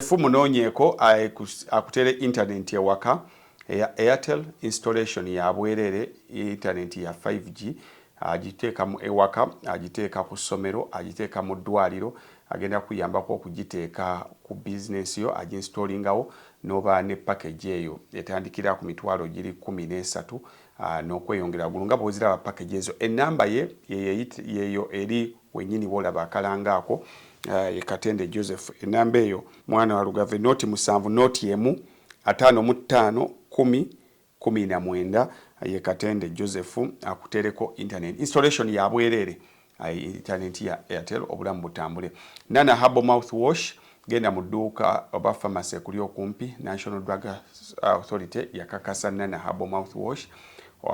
Fu munoonyeeko akutere internet ewaka eya Airtel installation ya bwereere internet ya 5G agiteeka mu ewaka agiteeka ku ssomero agiteeka mu ddwaliro agenda kuyambako okugiteeka ku bizinensi yo aginstallingawo n'oba ne package eyo etandikira ku mitwalo giri kkumi n'esatu n'okweyongera waggulu nga bw'oziraba package ezo ennamba ye yeyo eri wenyini wolaba akalango ako ye katende Joseph enamba eyo mwana wa lugave noti musanvu noti emu atano mu tano kumi kumi na mwenda ye katende Joseph akutereko internet installation ya bwerere ayi internet ya airtel obulamu butambule nana habo mouth wash genda mu dduuka oba pharmacy ekuli okumpi national drug authority yakakasa nana habo mouth wash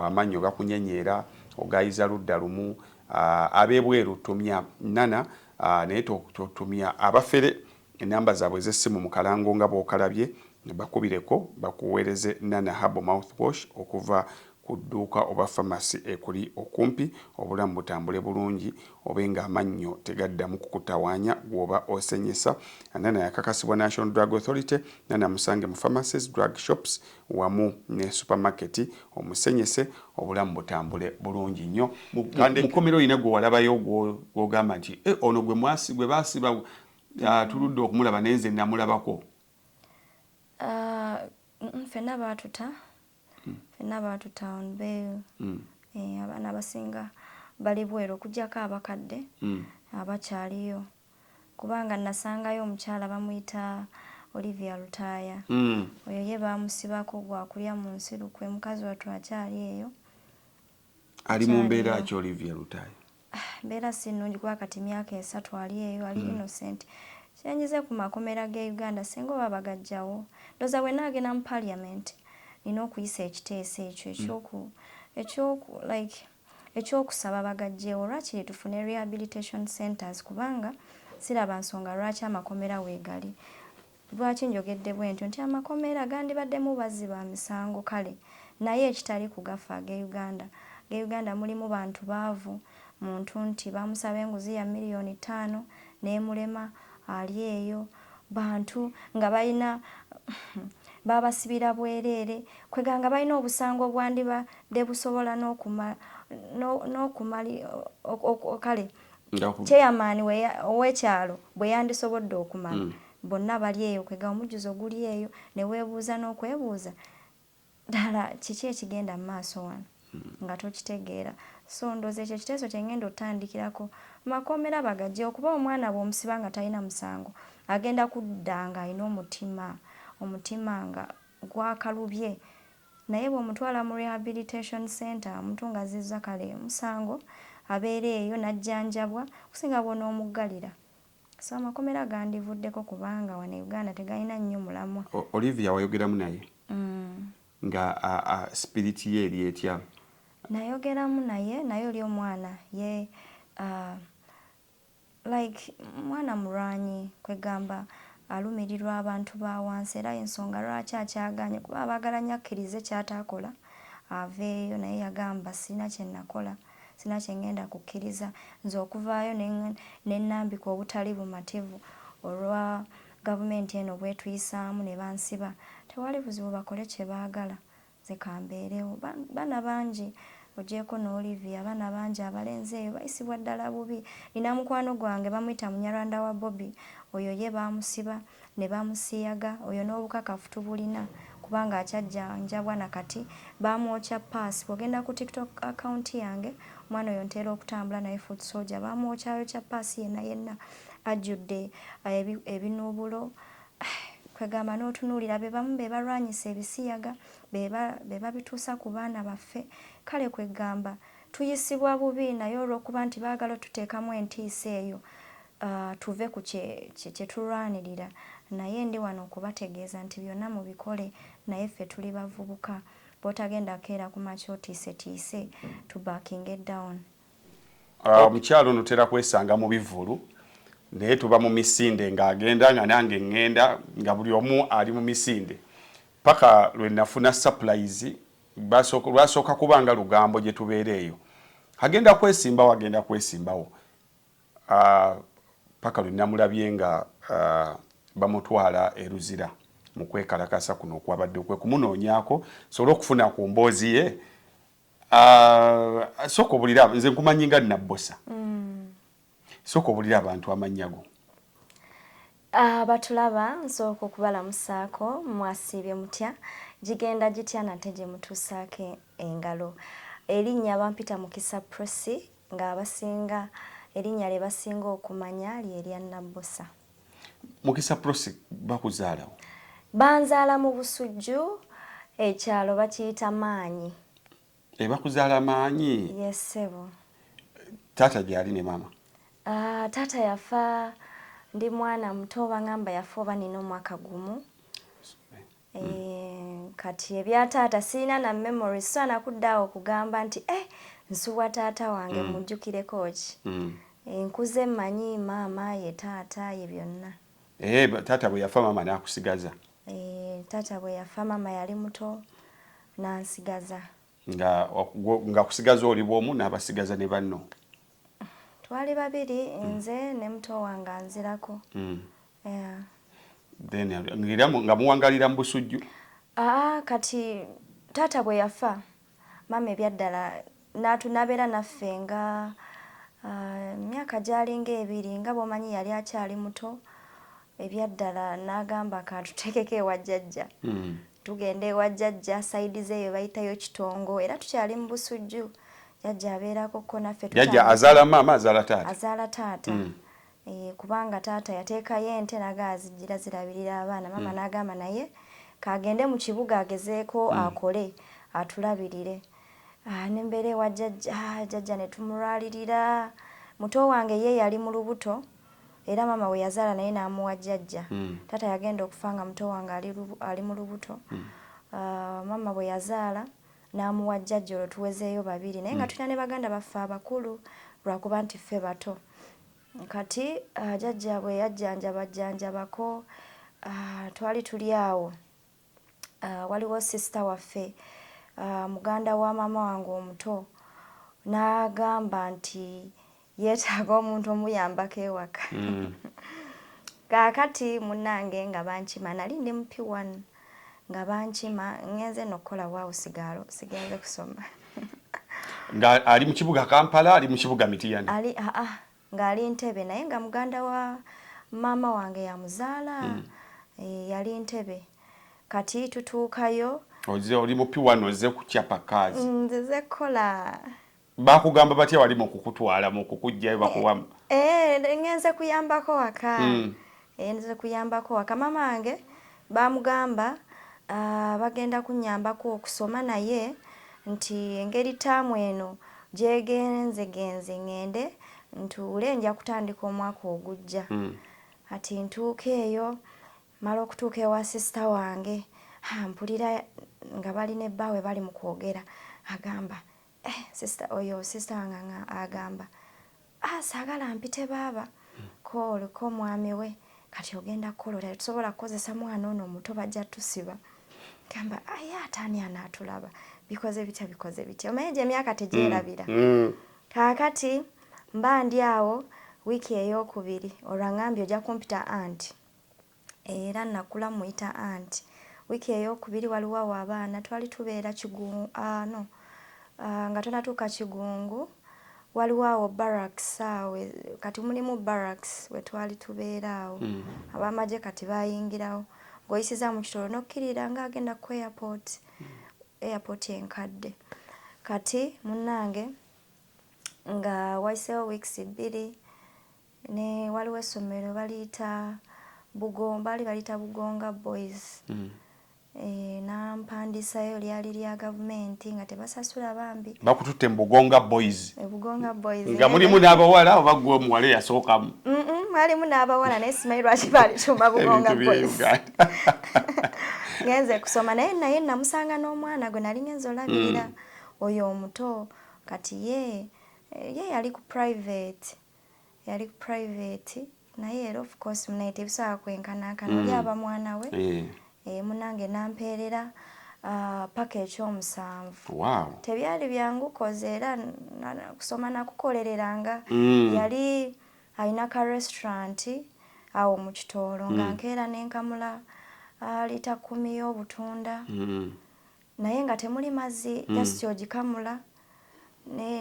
amannyo gakunyenyeera ogayiza ludda lumu Uh, abebweru tumya nana uh, naye totumya abafere enamba zaabwe ez'essimu mu kalango nga bw'okalabye bakubireko bakuweereze nana habo mouthwash okuva ku dduuka oba famasi ekuli okumpi obulamu butambule bulungi obe ng'amannyo tegaddamu kukutawaanya gw'oba osenyesa nana yakakasibwa national drug authority nana musange mu famacies drug shops wamu ne supermarket omusenyese obulamu butambule bulungi nnyo. Mukomera olina gwe walabayo gwogamba nti e ono gwe mwasi gwe basiba ah, tuludde okumulaba naye nze namulabako? Ah, fenna baatuta hmm. fenna baatuta on bail hmm. eh, abaana abasinga bali bweru okujjako abakadde hmm. abakyaliyo. kubanga nasangayo omukyala bamuyita Olivia Lutaaya oyo ye baamusibako gwa kulya mu nsi lukwe mukazi wattu akyali eyo ali mu mbeera ki Olivia Lutaaya mbeera si nnungi kuba kati myaka esatu ali eyo ali hmm. innocent kyenyize ku makomera g'e Uganda singa oba bagajjawo ndoza bwe naagenda mu parliament nina okuyisa ekiteeso ekyo hmm. ekyoku ekyoku like Eky'okusaba bagaggyewo lwakiri tufune rehabilitation centres kubanga siraba nsonga lwaki amakomera weegali. Lwaki njogedde bwentyo nti amakomera gandibaddemu bazzi ba misango kale naye ekitali ku gaffe ag'e Uganda. Ag'e Uganda mulimu bantu baavu, muntu nti baamusaba enguzi ya million ttaano n'emulema ali eyo. bantu nga balina babasibira bwereere kweganga balina obusango obwandibadde busobola n'okumali kale chairman ow'ekyalo bwe yandisobodde okumala mm. bonna bali eyo kwega omujjuzo guli eyo ne weebuuza n'okwebuuza Ddala kiki ekigenda mu maaso wano nga tokitegeera? So ndowooza ekyo ekiteeso kye ngenda otandikirako. Amakomera bagajewo kuba omwana bwomusiba nga talina musango agenda kudda nga alina omutima omutima nga gwakalubye naye bwomutwala mu rehabilitation center omuntu nga azizza kale musango abeera eyo najjanjabwa okusinga bwonomuggalira So amakomera gandivuddeko kubanga wano e Uganda tegalina nnyo mulamwa. Olivia wayogeramu naye? Mm. Nga a, a spirit ye eri etya? Nayogeramu naye naye oli omwana ye uh, like mwana mulwanyi kwegamba alumirirwa abantu ba wansi era ensonga lwaki akyaganye kuba abagala nyo akkirize kyatakola aveeyo naye yagamba sirina kyenakola. Sirina kye ngenda kukkiriza nze okuvaayo ne nnambika obutali bumativu olwa gavumenti eno bw'etuyisaamu ne bansiba. Tewali buzibu bakole kye baagala nze kambeerewo. Baana bangi ogyeko ne Olivia abaana bangi abalenzi eyo bayisibwa ddala bubi. Nnina mukwano gwange bamuyita Munyarwanda wa Bobi oyo ye baamusiba. ne bamusiyaga oyo n'obukakafu tubulina kubanga akyajjanjabwa na kati baamwokya ppaasi bw'ogenda ku tiktok account yange omwana oyo ntera okutambula naye foot soldier baamwokyayokya ppaasi yenna yenna ajjudde eh, ebinuubulo kwegamba n'otunuulira be bamu be balwanyisa ebisiyaga be babituusa ku baana baffe kale kwegamba tuyisibwa bubi naye olw'okuba nti baagala otuteekamu entiisa eyo Uh, tuve ku kyetulwanirira kye naye ndi wano okubategeeza nti byonna mubikole naye ffe tuli bavubuka bwotagenda keera ku makya otiisetiise to backinge down ah, omukyalo uh, notera kwesanga mu bivulu naye tuba mu misinde ng'agenda nga nange ŋŋenda nga buli omu ali mu misinde paka lwe nafuna supplies lwasooka kuba nga lugambo gye tubeera eyo agenda kwesimbawo agenda kwesimbawo Ppaka lwe namulabye nga bamutwala e Luzira mu kwekalakaasa kuno okwabaddewo kwe kumunoonyaako nsobole okufuna ku mboozi ye. Sooka obulira nze nkumanyi nga Nabbosa. Mm. Sooka obulira abantu amannya go. Abatulaba ah, nsooka okubalamusaako mwasiibye mutya gigenda gitya nate gye mutuusaako engalo erinnya bampita mukisa prosi ng'abasinga erinnya lye basinga okumanya lye lya Nabbosa. Mukisa Prossy bakuzaalawo? Banzaala mu Busujju, ekyalo bakiyita Maanyi. E bakuzaala Maanyi? Ye ssebo. Taata gyali ne maama? Uh, taata yafa ndi mwana muto bangamba yafa oba nina omwaka gumu Eh, kati ebya taata sirina na memory sisaana kudda awo okugamba nti eh nsubwa taata wange mm. mujjukireko ki mm. eh, nkuze mmanyi maama ye taata ye byonna eh, taata bwe yafa maama n'akusigaza taata bwe yafa maama yali muto n'ansigaza nga kusigaza oli bwomu n'abasigaza ne banno twali babiri mm. nze ne muto wange anzirako mm. then era nga muwangalira mu busujju aa kati taata bwe yafa maama ebyaddala nabeera naffe nga myaka gyalinga ebiri nga bwomanyi yali akyali muto ebyaddala n'agamba kantuteekeko ewa jjajja hmm. tugenda ewa jjajja sayidi zeeyo bayitayo kitongo era tukyali mu busujju jjajja abeerako ko naffe jjajja azaala maama azaala taata azaala taata hmm. eh, kubanga taata yateekayo ente naga azijjira zirabirira abaana maama hmm. n'agamba naye kagende mu kibuga agezeeko akole atulabirire ah, nembeera ewa jjajja ah, jjajja ne tumulwalirira muto wange ye yali mu lubuto Era maama we yazaala naye n'amuwa jjajja. Taata yagenda okufa nga muto wange ali ali mu lubuto. Maama bwe yazaala n'amuwa jjajja olwo tuwezeeyo babiri naye nga tulina ne baganda baffe abakulu lwa kuba nti ffe bato. Kati jjajja bwe yajjanjaba jjanjabako twali tuli awo. uh, waliwo sister waffe uh, muganda wa maama wange omuto n'agamba nti yeetaaga omuntu omuyambako ewaka mm. kaakati munnange nga bankima nali ndi mupi one nga bankima ngenze nokukola waawo sigaalo sigenze kusoma nga ali mu kibuga kampala ali mu kibuga mitiyani ali aa ah, ah. nga ali ntebe naye nga muganda wa maama wange yamuzaala mm. e, yali ntebe kati tutuukayo oze oli mupi wano oze kukyapa kazi mm, nzize kukola bakugamba batya wali mukukutwala mukukujjayo bakuwamu e, e, ngenze kuyambako waka mm. Eyinza kuyambako waka mama wange bamugamba bagenda kunyambako okusoma naye nti engeri taamu eno gyegenzegenze ngende ntuule nja kutandika omwaka ogujja mm. ati ntuuka eyo mala okutuuka ewa sisita wange mpulira nga bali ne bbaawe bali mu kwogera agamba eh, sister oyo sister wange nga agamba ah, saagala mpite baaba koolu ko mwami we kati ogenda kukolola tetusobola kukozesa mwana ono omuto bajja tusiba gamba aye ah, ataani anaatulaba bikoze bitya bikoze bitya omanye gye emyaka tegyerabira mm, mm. kaakati mba ndi awo wiiki ey'okubiri olwangambye ojja kumpita anti Era nakula mmuyita aunt. Wiiki eyookubiri waliwo awo abaana twali tubeera Kigu, aah no aah nga tonnatuuka Kigungu, waliwo awo barracks awo kati mulimu barracks we twali tubeera awo. Ab'amagye kati baayingirawo. Ng'oyisizza mu kitoola n'okkirira ng'agenda ku airport, airport enkadde. Kati munnange nga wayiseewo weeks bbiri ne waliwo essomero baliyita bugon baali baliyita bugonga boys mm. e, eh, nampandisayo lyali lya gavumenti nga tebasasula bambi bakututte mu bugonga boys e, bugonga boys nga mulimu n'abawala oba gwe omuwala eyasookamu mwalimu n'abawala naye simanyi lwaki balituma bugonga boys ngenze kusoma naye naye namusanga n'omwana gwe nali ngenze olabirira mm. oyo omuto kati ye ye yali ku private yali ku private naye era of course munaye tebisobola kwenkanankana mm. oli aba mwana we yeah. e, munange nampeerera uh, ah, paka ekyomusanvu wow. tebyali byangu koze era kusoma nakukolereranga mm. yali alina ka restaurant awo mu kitoolo mm. nga nkeera nenkamula uh, ah, lita kumi y'obutunda mm. naye nga temuli mazzi mm. just ogikamula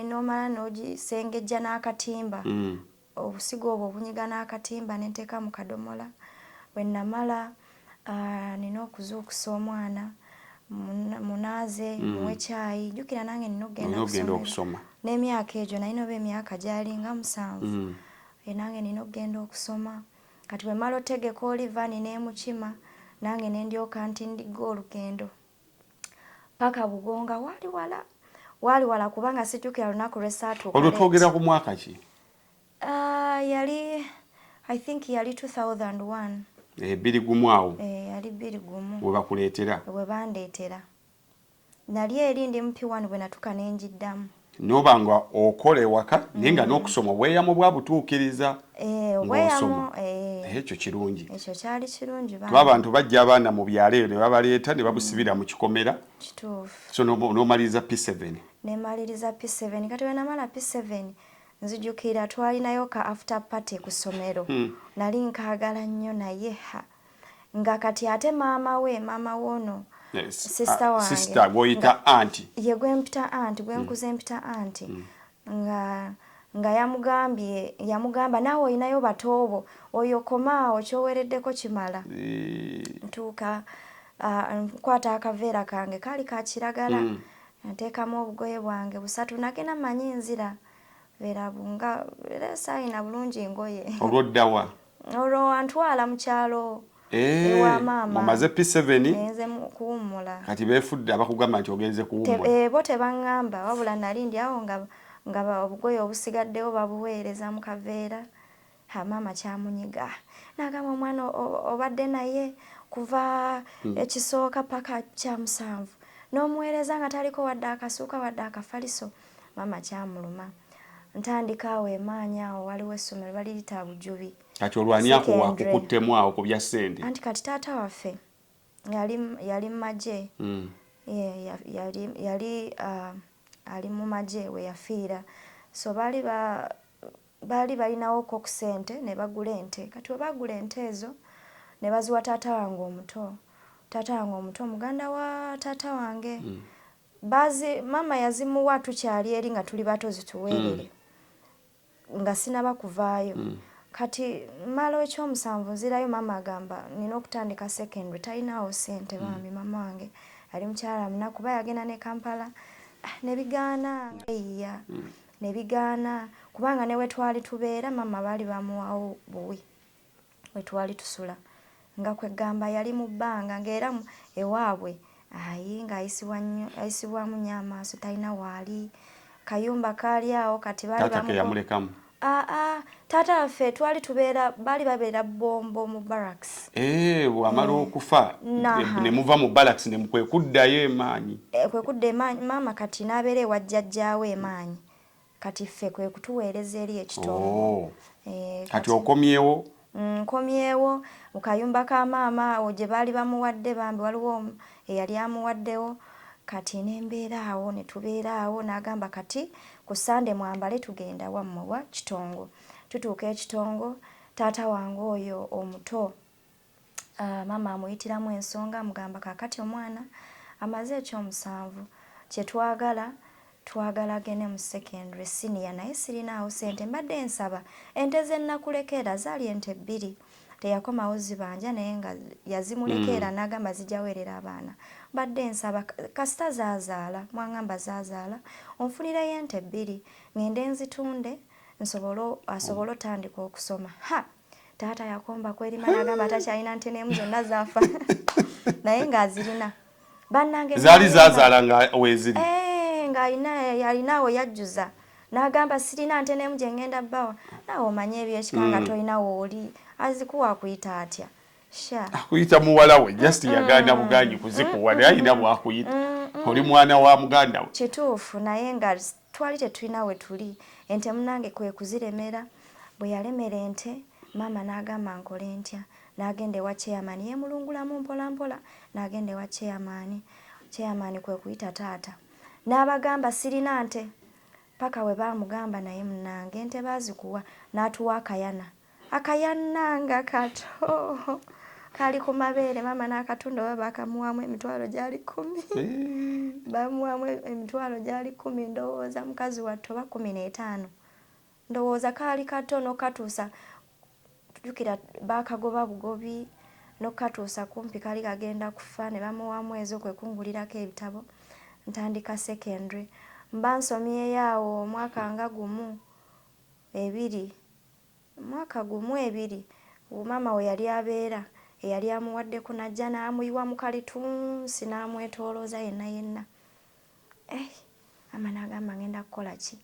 nomala nogisengejja n'akatimba mm. obusigo obwo obunyiga n'akatimba nenteeka mu kadomola wenamala ah, nina okuzuukusa omwana munaaze mm. muwe kyayi jjukira nange nina okugenda okusoma n'emyaka egyo naye noba emyaka gyalinga musanvu mm. eh, nange nina okugenda okusoma Kati bwe mmala otegeka oli vani n'emukima nange ne ndyoka ntindigga olugendo paka Bugonga waali wala waali wala kubanga sijjukira lunaku lwe saatuuka. Olwo twogera ku mwaka ki? Uh, yali I think yali 2001. Eh, biri gumu awo. Eh, yali biri gumu. Webakuleetera. Webandeetera. Nali eri ndi mu P one bwenatuka nenjiddamu. Noba nga okola ewaka naye nga nokusoma obweyamo bwabutuukiriza Eh, obweyamo, ng'osoma. eh. Naye ekyo kirungi. Ekyo kyali kirungi Kuba bambi. abantu bajja abaana mu byalo eyo ne babaleeta ne babusibira mu kikomera. Kituufu. So n'oba, n'omaliriza P seven. Ne maliriza P seven. Kati bwe namala P seven, nzijukira twalinayo ka after party ku ssomero. Nali nkaagala nnyo naye ha! nga kati ate maama we maama woono sisita wange gwoyita anti ye gwempita anti gwenkuze mpita anti mm. nga nga yamugambye yamugamba naawe olinayo batoobo oyo komaawo kyowereddeko kimala ntuuka nkwata akaveera kange kaali ka kiragala mm. nteekamu obugoye bwange busatu nagenda manyi nzira beera nga era saayina bulungi ngoye olwoddawa Olwo wantwala mu kyalo ewa eh, maama. Mumaze P7. Nze kuwummula. Kati beefudde abakugamba nti ogenze kuwummula. Eh, bo tebaŋŋamba wabula nali ndi awo nga nga obugoye obusigaddewo babuweereza mu kaveera. Ha maama kyamunyiga. N'agamba omwana obadde naye kuva hmm. ekisooka paka kya musanvu. N'omuweereza nga taliko wadde akasuuka wadde akafaliso. maama kyamuluma ntandika awo emaanyi awo waliwo essomero balirita bujubi kati olwani ako wakukuttemu awo ku bya ssente anti kati taata waffe yali mumagye mm. yali uh, ali mu magye we yafiira so baali ba baali balinawo ko ku sente ne bagula ente kati webagula ente ezo ne baziwa taata wange omuto taata wange omuto muganda wa taata wange mm. Bazi mama yazimuwa tukyali eri nga tuli bato zituwerere mm. nga sinaba kuvaayo mm. kati mala ekyomusanvu nzirayo mama agamba nina okutandika secondary talinawo sente mm. bambi mm. mama wange ali mukyala muna kuba yagenda ne kampala ah, nebigaana mm. eyiya mm. nebigaana kubanga newetwali tubeera mama baali bamuwawo buwi we twali tusula nga kwegamba yali mu bbanga nga era ewaabwe ayi nga ayisibwa nnyo ayisibwamu nnyo amaaso talina waali kayumba kaali awo kati baali bamulekamu aa taata waffe twali tubeera baali babeera bombo mu barracks eh bwamala eh, okufa ne muva mu barracks ne kwe kuddayo emaanyi eh, kwe kudda emaanyi maama kati n'abeera ewa jjajjaawe emaanyi kati ffe kwe kutuweereza eri ekitongole oh. eh, kati okomyewo mm, nkomyewo mu kayumba ka maama awo gye baali bamuwadde bambi waliwo eyali amuwaddewo kati n'embeera awo ne tubeera awo n'agamba kati ku sande mwambale tugenda wammwe wa kitongo tutuuka ekitongo taata wange oyo omuto Ah, maama amuyitiramu ensonga amugamba kakati omwana amaze ekyomusanvu kyetwagala twagala agende mu secondary senior naye sirinaawo sente mbadde nsaba ente zenakulekeera zaali ente bbiri teyakomawo zibanja naye nga yazimulekeera mm. nagamba zijaweerera abaana mbadde nsaba kasita zazaala mwangamba zazaala onfunireyo ente bbiri ngende nzitunde nsobole asobole otandika okusoma ha taata yakomba kwerima nagamba takyalina nte nemu zonna zafa naye ngaazirina banange zaali zazaala nga weziri eh, ngaalinaawo yajjuza nagamba sirina nte nemu gyengenda bawa nawe omanye ebyekika nga mm. tolina wooli azikuwa akuyita atya akuyita muwala we just yaganda buganyi kuzikuwa naye alina bwakuyita oli mwana wa muganda we kituufu naye nga Twali tetulina we tuli, ente munnange kwe kuziremera. Bwe yalemera ente, maama n'agamba nkole ntya? N'agenda ewa Chairman yeemulungulamu mpolampola n'agenda ewa Chairman. Chairman kwe kuyita taata n'abagamba sirina nte. Ppaka bwe baamugamba naye munnange ente baazikuwa n'atuwa akayana. akayanna nga kato kali ku mabeere maama n'akatunda oba baakamuwaamu emitwalo gyali kkumi bamuwaamu emitwalo gyali kkumi ndowooza mukazi wattu oba kkumi n'etaano ndowooza kaali kato n'okukatuusa jukira baakagoba bugobi n'okukatuusa kumpi kali kagenda kufa ne bamuwaamu ezo kwe kungulirako ebitabo ntandika secondary mba nsomyeyo awo omwaka nga gumu ebiri Omwaka gumu ebiri gu maama we yali abeera eyali amuwadde ku n'ajja n'amuyiwa mu kalitunsi n'amwetoolooza yenna yenna. Eih! Maama n'agamba ng'enda kukola ki?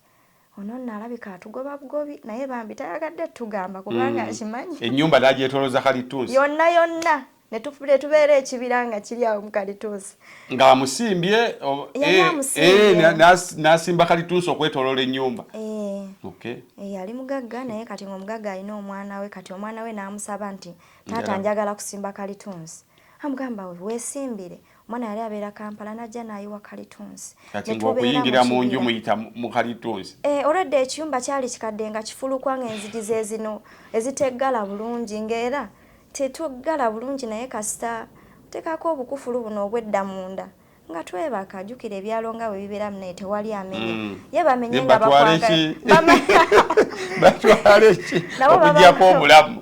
Ono nno alabika atugoba bugobi naye bambi tayagadde tugamba kubanga akimanyi. Ennyumba n'agyetoolooza kalittunsi. Yonna yonna. ne tubeera ekibira nga kiri awo mu kalituusi ng'amusimbye eh, eh, n'asimba kalituusi okwetolola ennyumba eh. yali mugagga naye kati ngaomugagga alina omwana we kati omwana we n'amusaba nti taata njagala kusimba kalituusi amugamba wesimbire omwana yali abeera kampala najja nayiwa kalitunsi kati ngaokuyingira mu nju muyita mu kalitunsi eh, olwedda ekiyumba kyali kikadde nga kifulukwa nga enzigi zezino eziteggala bulungi ngaera tetuggala bulungi naye kasita otekako obukufulu buno obwedda munda nga twebaka jukira ebyalo nga bwe bibeera munaye tewali amenya mm. ye bamenye nga bakwagabatwaleki okujjako obulamu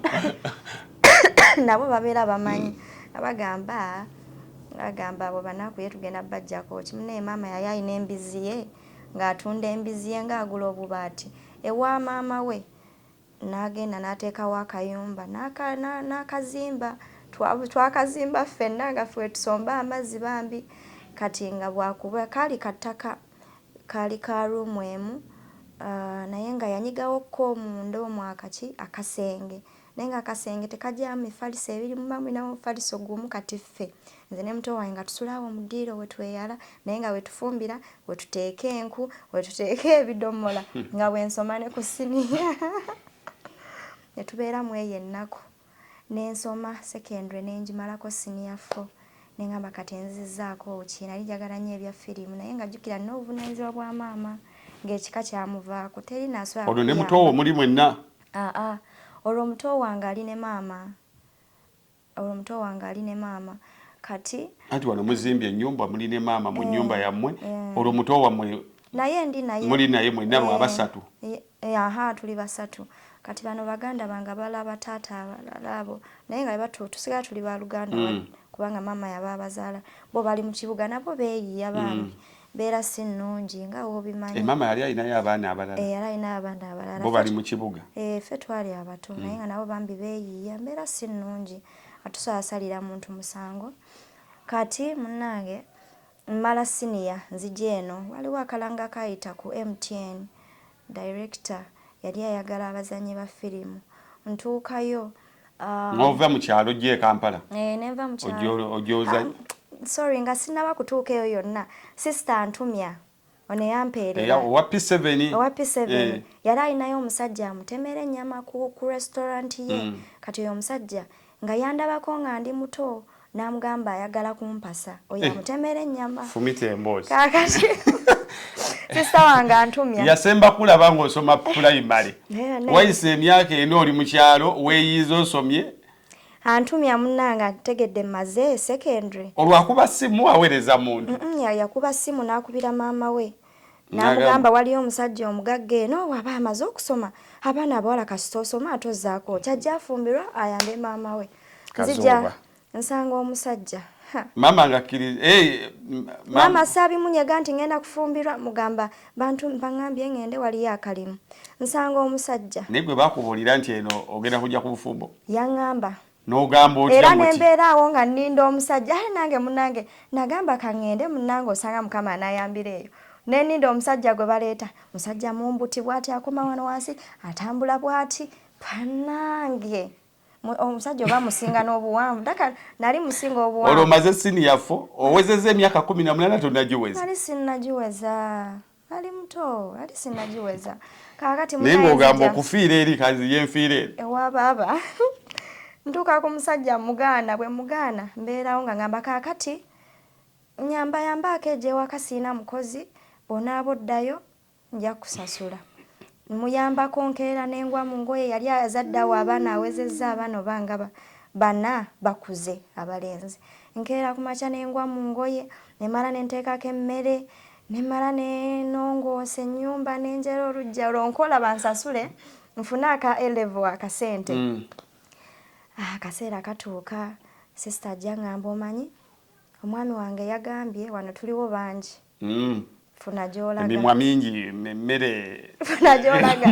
nabo babeera bamanyi abagamba agamba abo banaku ye tugenda bajjako kimunaye maama yali alina embizzi ye ng'atunda embizzi ye ng'agula obubaati ewa maama we n'agenda n'ateekawo akayumba n'akazimba twakazimba ffenna nga ffe tusomba amazzi bambi kati nga bwakuba kaali ka ttaka kaali ka ruumu emu ah, naye nga yanyigawo ko omunda omwakaki akasenge naye nga akasenge tekagyamu mifaliso ebiri muba mulina mufaliso gumu kati ffe nze ne muto wange nga tusulaawo mu ddiiro wetweyala naye nga wetufumbira wetuteeka enku wetuteeka ebidomola nga bwensoma ne ku siniya netubeera mu eyo ennaku nensoma secondary nengimalako siniya fo nengamba kati enzizaako ki nali njagala nnyo ebya firimu naye nga jjukira nina obuvunanyizibwa bwa maama ng'ekika kyamuvaako teri naswala olwo ne muto wo muli mwenna Ah ah olwo muto wange ali ne maama olwo muto wange ali ne maama kati anti wano muzimbye enyumba muli ne maama mu nyumba eh, yammwe eh. olwo muto wammwe naye ndi naye muli naye mwenna lwa eh, basatu aha tuli basatu kati bano baganda bange balaba taata abalala abo naye nga batu tusigala tuli baluganda mm. kubanga maama yaba abazaala bo bali mu kibuga nabo beeyiya bambi mm. mbeera si nnungi nga wobimanyi. Eh, maama yali alinayo abaana abalala? Eh, yali alinayo abaana abalala. Bo bali mu kibuga? Eh, ffe twali abato mm. naye nga nabo bambi beeyiiya mbeera si nnungi atusalasalira muntu musango kati munnange mmala siniya nzija eno waliwo akalanga kaayita ku mtn Director yali ayagala abazanyi ba firimu ntuukayo um, nova mu kyalo ojja e kampala eh, nenva mu kyalo ojoza um, sorry nga sinaba kutuuka eyo yonna sister antumya ono eyampeerera owa P7 owa P7 eh. yali alinayo omusajja amutemera ennyama ku, ku restaurant ye mm. kati oyo omusajja nga yandabako nga ndi muto n'amugamba ayagala kumpasa oyo eh. amutemera ennyama fumita emboozi kakati sisita wange antumya yasemba kulaba ng'osoma pulayimale wayise emyaka ena oli mu kyalo weeyiiza osomye antumya munnange ategedde maze secondary olwakuba simu aweereza muntu yakuba simu n'akubira maama we namugamba waliyo omusajja omugagga eno waba amaze okusoma abaana abawala kasita osoma ate ozaako kyajja afumbirwa ayambe maama we nzija nsanga omusajja maama ngakkiriza eh, maama saabimunyega nti ngenda kufumbirwa mugamba bantu baŋambye ngende waliyo akalimu nsanga omusajja naye gwe bakubuulira nti eno ogenda kujja ku bufumbo yaŋamba nogamba otya era nembeera awo nga ninda omusajja aye nange munange nagamba kangende munange osanga mukama anayambira eyo neninda omusajja gwe baleeta musajja mumbuti bwati akoma wano wansi atambula bwati panange omusajja oba musinga n'obuwanvu daka nali musinga obuwanvu olwo omaze sini yafo owezeza emyaka kumi na munana tonagiweza nali sinagiweza ali muto ali sinagiweza kakati naye ng'ogamba okufiira eri kazi ye nfiira eri ewa baaba ntuuka ku musajja mugaana bwe mugaana mbeerawo nga ngamba kakati nyamba yambaako egyewaka siina mukozi bwonaaba oddayo nja kusasula muyambako nkeera nengwa mu ngoye yali azaddawo abaana awezezza abaana oba nga bana bakuze abalenzi nkeera ku makya nengwa mu ngoye nemala nenteekako emmere ne mmala ne nongoosa ennyumba ne njala olujja olwo nkola bansasule nfune aka elevo akasente mm. ah, akaseera katuuka sisita ajja ngamba omanyi omwami wange yagambye wano tuliwo bangi mm. funa gyolaga emimwa mingi emmere funa gyolaga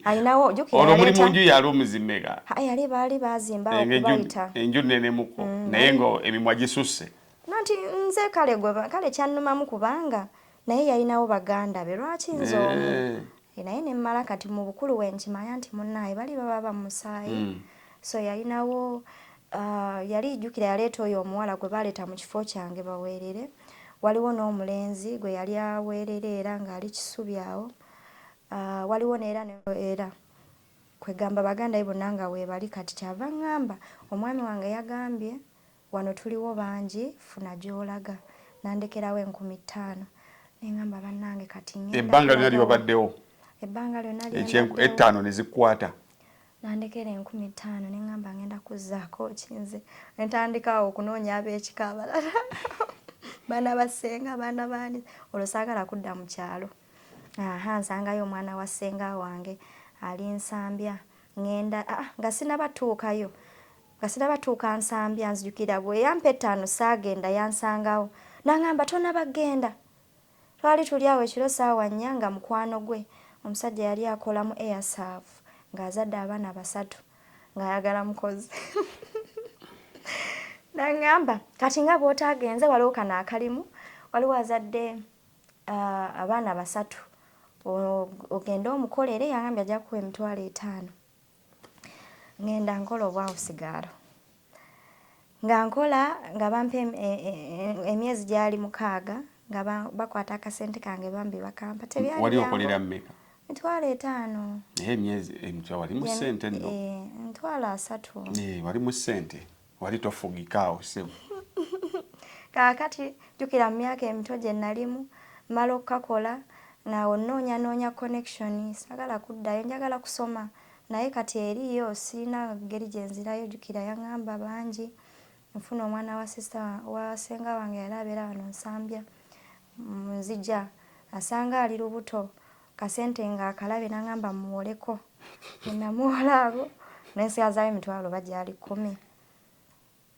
alinawo jukira olwo muli mu nju yali omuzimmeka yali baali baazimba okubayita enju nnenemuko mm, naye nga emimwa gisusse Nanti nze kale gwe kale kyannumamu kubanga naye yalinawo baganda be lwaki nze omu eh. Eh, naye ne mmala kati mu bukulu we nkimanya nti munnaaye bali baba ba musaayi mm. so yalinawo uh, yali jjukira yaleeta oyo omuwala gwe baleeta mu kifo kyange baweerere waliwo n'omulenzi gwe yali aweerera era ng'ali kisubi awo uh, waliwo neera era kwegamba baganda ye bonna nga weebali kati kyava ŋŋamba omwami wange yagambye Wano tuliwo bangi funa gyolaga. Nandekerawo enkumi ttaano nengamba bannange kati ngenda. Ebbanga lyonna lyobaddewo. Ebbanga lyonna lyembaddewo. Ettaano ne zikwata. Nandekera enkumi ttaano nengamba ngenda kuzzaako ki nze. Ne ntandika awo okunoonya ab'ekika abalala. Baana ba ssenga, baana baani. Olwo saagala kudda mu kyalo. Aha nsangayo omwana wa ssenga wange ali Nsambya. Ngenda ah, nga sinabatuukayo. Nga sinaba tuuka Nsambya nzijukira bwe yampa ettaano saagenda yansangawo n'angamba tonaba genda. Twali tuli awo ekiro saawa nnya nga mukwano gwe omusajja yali akola mu Airserve ng'azadde abaana basatu ng'ayagala mukozi n'angamba kati nga bw'otaagenze waliwo kano akalimu waliwo azadde abaana basatu ogende omukolere yangambye ajja kuwa emitwalo etaano. ngenda nkola obwawusigaalo nga nkola nga bampa e, e, emyezi gyali mukaaga nga bakwata akasente kange bambi bakampa tebyaliwali okolera mmeka emitwalo etaano naye emyezi emitwalo wali mu ssente nno emitwalo asatu wali mu ssente Wali tofugika awo ssebo. Kaakati jjukira mu myaka emito gye nalimu, mmala okukakola ng'awo nnoonyanoonya connection, saagala kuddayo, njagala kusoma naye kati eriiyo sirina ngeri gye nzirayo, jjukira yang'amba bangi nfune omwana wa sister wa ssenga wange yali abeera wano Nsambya, nzija asanga ali lubuto kasente nga akalabe nangamba muwoleko nenamuwola ago nensigazayo emitwalo oba gyali kumi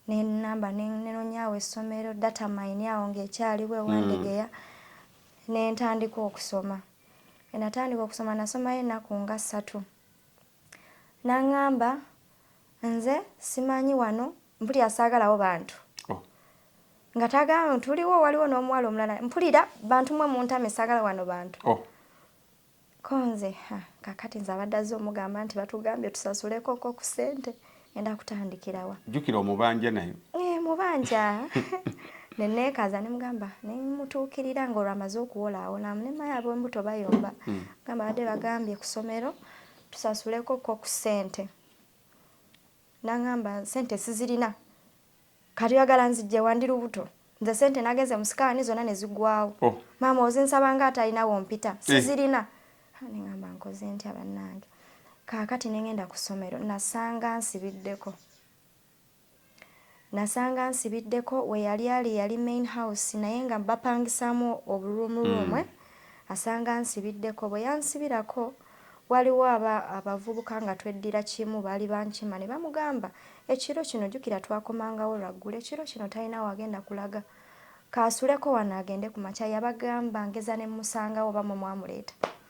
nenamba nenonyawo essomero data mine awo ngaekyaliwo ewandegeya mm. nentandika okusoma enatandika okusoma nasomayo ennaku nga ssatu nangamba nze simanyi wano mpulira saagalawo bantu oh. nga tagama tuliwo waliwo n'omuwala omulala mpulira bantu mwe muntame saagala wano bantu oh. konze kakati nze abadde azze omugamba nti batugambye tusasuleko nko ku ssente enda kutandikirawa jjukira omubanja naye eh, mubanja neneekaza nemugamba nemutuukirira nga olwo amaze okuwola awo namunemaya abembuto bayomba hmm. gamba badde bagambye ku kusomero tusasuleko ko ku ssente Nangamba sente sizirina kati oyagala nzijjewa ndi lubuto nze sente nagenze musikaani zona nezigwawo oh. maama ozinsaba nga atalina wompita eh. sizirina eh. nengamba nkoze ntya bannange kaakati nengenda ku ssomero nasanga nsibiddeko Nasanga nsibiddeko weyali ali yali main house naye nga bapangisaamu obu room room eh asanga nsibiddeko bwe yansibirako waliwo aba abavubuka nga tweddira kimu baali bankima ne bamugamba ekiro kino jukira twakomangawo lwa ggulo ekiro kino talina wagenda kulaga kaasuleko wano agende ku makya yabagamba ngeza ne mmusangawo oba mwe mwamuleeta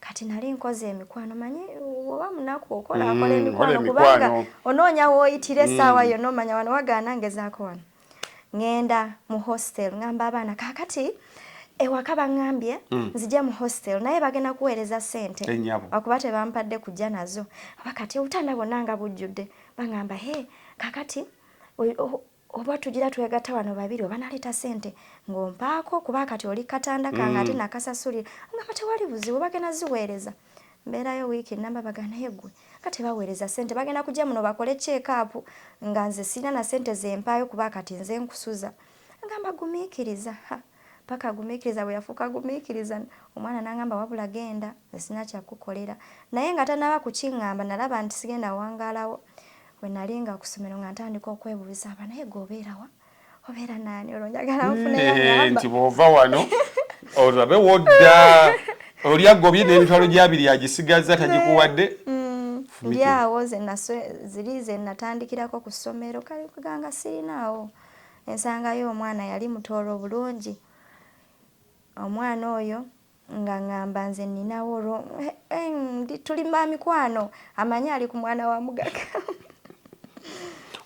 kati nali nkoze emikwano manyi oba munaku okola mm, akola emikwano kubanga onoonya wooyitira essaawa mm. yonna omanya wano wagaana ngezaako wano ŋŋenda mu hostel ŋamba abaana kaakati ewaka baŋŋambye mm. nzija mu hostel naye bagenda kuweereza ssente akuba tebampadde kujja nazo aba kati obutanda bwonna nga bujjudde baŋamba he kaakati Oba tugira twegata wano babiri oba naleta sente ngompaako kuba kati oli katanda kange mm. ate nakasasulira ngamba tewali buzibu bagenda ziweereza mbeerayo wiiki namba bagana naye gwe nga tebaweereza sente bagenda kujja muno bakole kyekaapu nga nze sirina na sente zempaayo kuba kati nze nkusuza ngamba gumiikiriza paka gumikiriza bweyafuuka gumikiriza omwana nangamba wabula genda nze sirina kyakukolera naye nga tanaba kukingamba nalaba nti sigenda wangalawo wenali nga kusomero nga ntandika okwebuuza aba naye gwe obeerawa obeera naani olwo njagala mm, nfuneyo nti bwova wano olabe wodda oli agobye n'emitwalo gyabiri agisigaza tagikuwadde mm, ndi awo ziri zenatandikirako ku ssomero kale kuganga sirinaawo Ensanga y'omwana yali mutooro bulungi. Omwana oyo nga ngamba nze ninawo olwo eh, eh, ndi tuli ba mikwano amanyi ali ku mwana wa mugagga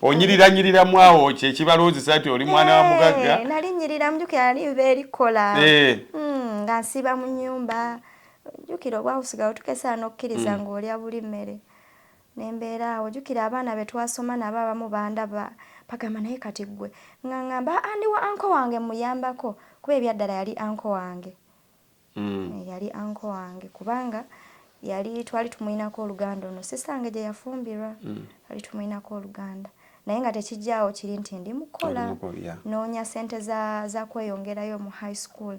onyiriranyiriramu awo kyekibaloozesa nti oli mwana wa mugagga eh, nali nyirira mjuki ali nva erikola hmm, nga nsiiba mu nyumba jukira obwakusigawo tukesaana okukkiriza hmm. ng'olya buli mmere Ne mbeera awo. Jjukira abaana be twasoma nabo abamu bandaba, bagamba, Naye kati ggwe. Nga ŋŋamba, Aa, ndi wa uncle wange mmuyambako. Kuba ebyaddala yali uncle wange. Eeh, yali uncle wange, kubanga yali, twali tumulinako oluganda ono sister wange gye yafumbirwa. Twali tumulinako oluganda. Naye nga tekiggyaawo kiri nti ndi mu kukola, nnoonya ssente za, za kweyongerayo mu high school.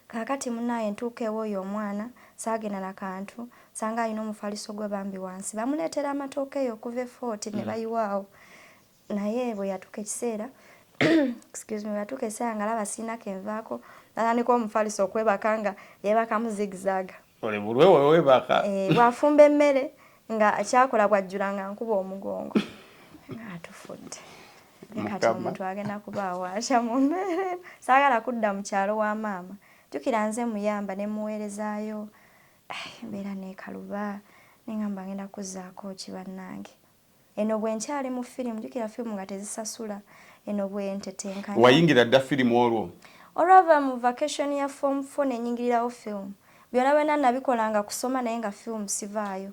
Kakati munaye ntuuka ewoyo omwana sagenda na kantu sanga alina omufaliso gwe bambi wansi bamuletera amatooke eyo okuva e fort ne mm. bayiwa awo naye bwe yatuuka ekiseera excuse me batuuka ekiseera nga laba siina kenvaako natandika omufaliso okwebaka nga yebakamu zigzaga oli bulwe wewe baka eh bwafumba emmere nga kyakola bwajjula nga nkuba omugongo nga atufudde kati omuntu agenda kubaawo asha mu mbeere saagala kudda mu kyalo wa maama jjukira nze muyamba ne muweerezaayo eh, mbeera neekaluba nengamba ngenda kuzzaako ki bannange Eno bwenkyali mu firimu jukira firimu nga tezisasula eno bwentetenkanya. Wayingira dda firimu olwo? Olwava mu vacation ya form four nenyingirirawo film. Byona byona nabikola nga kusoma naye nga film sivaayo.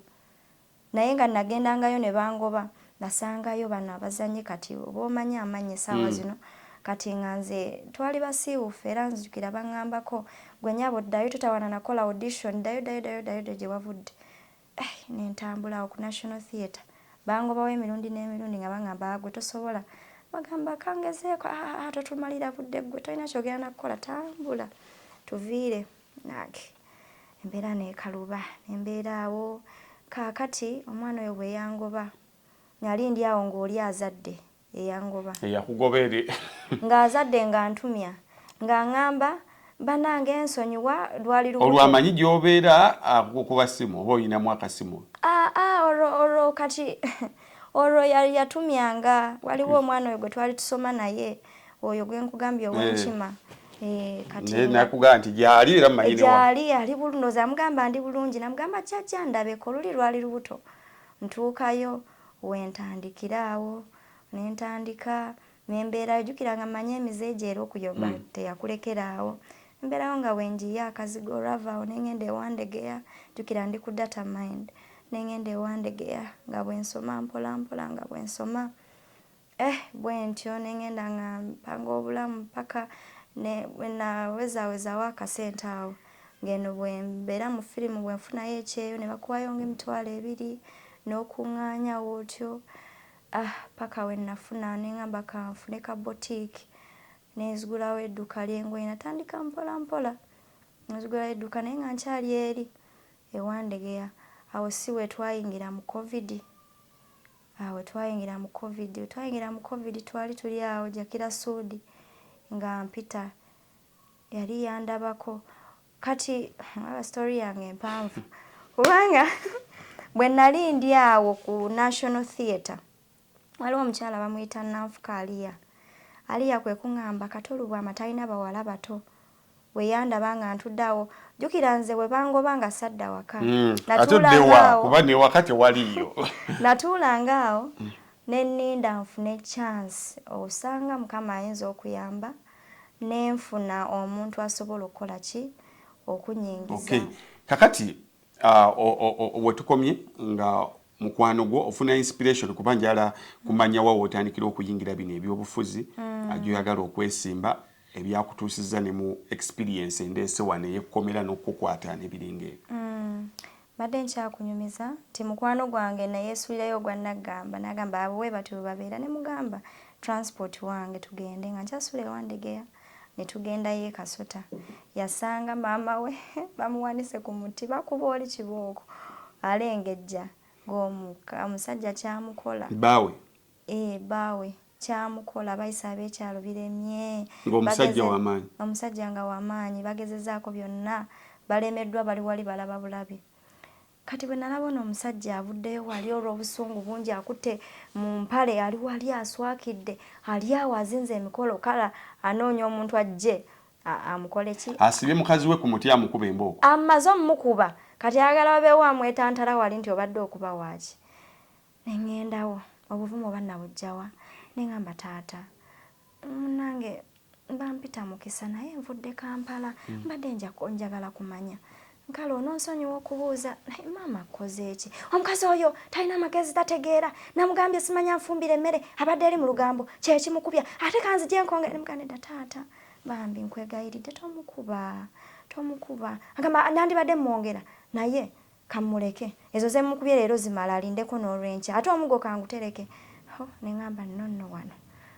Naye nga nagendangayo nebangoba nasangayo bano abazanyi kati oba omanyi amanyi esaawa zino. Mm. Kati nga nze twali basiiwufu era nzijukira bangambako gwe nyabo ddayo totawana nakola audition ddayo ddayo ddayo ddayo ddayo gyewavudde. eh nentambula awo ku national theatre bangobawo emirundi n'emirundi nga bangamba agwe ah, tosobola bagamba kangezeeko aa ah, ah, totumalira budde gwe tolina kyogera nakukola tambula tuviire nange embeera nekaluba nembeera awo kaakati omwana oyo bweyangoba nali ndi awo ng'oli azadde eyangoba eyakugoba eri ng'azadde nga ntumya nga ngamba banange nsonyiwa lwali lubuto olwamanyi gy'obeera akukuba simu oba olinamu akasimu aa ah, ah, olwo olwo kati olwo yatumyanga waliwo omwana oyo gwe twali tusoma naye oyo gwe nkugambye ow'enkima eh. Eh, nakugamba nti gyali era mmanyi gyali ali bulungi ndoza amugamba ndi bulungi namugamba kyajja ndabeko luli lwali lubuto ntuukayo we ntandikira awo ne ntandika ne mbeerayo. Jjukira nga mmanyi emize gye era okuyomba mm. teyakulekera awo. Mbeerayo nga bwe njiye akazigo olwava awo ne ng'enda ewa Ndegeya. Jjukira ndi ku data mind ne ng'enda ewa Ndegeya nga bwe nsoma mpolampola nga bwe nsoma. Eh bwentyo ne ngenda nga mpanga obulamu paka ne bwenawezaawezawo akasente awo ng'eno bwe mbeera mu firimu bwe nfunayo ekyeyo ne bakuwayo ng'emitwalo ebiri n'okuŋŋaanyawo otyo ah paka we nafuna ne ngamba ka nfune ka botiki ne nzigulawo edduka ly'engoye natandika mpola mpola nzigulawo edduka naye nga nkyali eri ewandegeya awo si we twayingira mu kovidi Awo twayingira mu covid twayingira mu covid twali tuli awo jakira suudi nga mpita yali yandabako kati aba story yange mpanvu kubanga bwe nali ndi awo ku national theatre waliwo omukyala bamuyita nanfuka aliya aliya kwe kuŋamba katolubwa amatalina bawala bato Bwe yandaba nga ntudde awo, jjukira nze bwe bangoba nga sadda waka. Hmm. Ate oddewa kuba ne waka tewaliyo. Natuulanga awo hmm. ne nninda nfune chance osanga Mukama ayinza okuyamba ne nfuna omuntu asobola okukola ki okunyingiza. Okay. Kakati uh, we tukomye nga mukwano gwo ofuna inspiration kuba njala kumanya wa wotandikira okuyingira bino ebyobufuzi mm. ajoyagala okwesimba ebyakutuusizza ne mu experience endeese wano ey'ekkomera n'okukukwata n'ebiringa ebyo? Mm, mbadde nkyakunyumiza nti mukwano gwange nayeesuulirayo ogwa Naggamba n'agamba abo bwe batyo bwe babeera ne mugamba transport wange tugende nga nkyasuula e Wandegeya ne tugendayo e Kasota yasanga maama we bamuwanise ku muti bakuba oli kibooko alengejja ng'omusajja kyamukola baawe ee eh, baawe kyamukola bayise ab'ekyalo biremye. Ng'omusajja w'amaanyi. Omusajja nga w'amaanyi bagezezzaako byonna balemeddwa bali wali balaba bulabi. Kati bwe nalaba ono omusajja avuddeyo wali olw'obusungu bungi akutte mu mpale ali wali aswakidde ali awo azinze emikolo kala anoonya omuntu ajje amukole ki asibye mukazi we ku muti amukuba embooko amaze omukuba kati ayagala wabeewo amwetantala wali nti obadde okuba waaki Nengendawo obuvumu oba nabujjawa nengamba taata munange bampita mukisa naye nvudde Kampala mm. mbadde njagala kumanya nkale ononsonyiwa okubuuza naye maama akkozeeki omukazi oyo talina magezi tategeera namugambye simanya nfumbira emmere abadde eri mu lugambo kyekimukubya ate kanzije nkonge nemuganedda taata bambi nkwegayiridde tomukuba tomukuba agamba nandibadde mwongera naye Kamuleke. Ezo zemukubye leero zimala alindeko nolwenkya. Ate omugo kangutereke. Ho nengamba no no wano.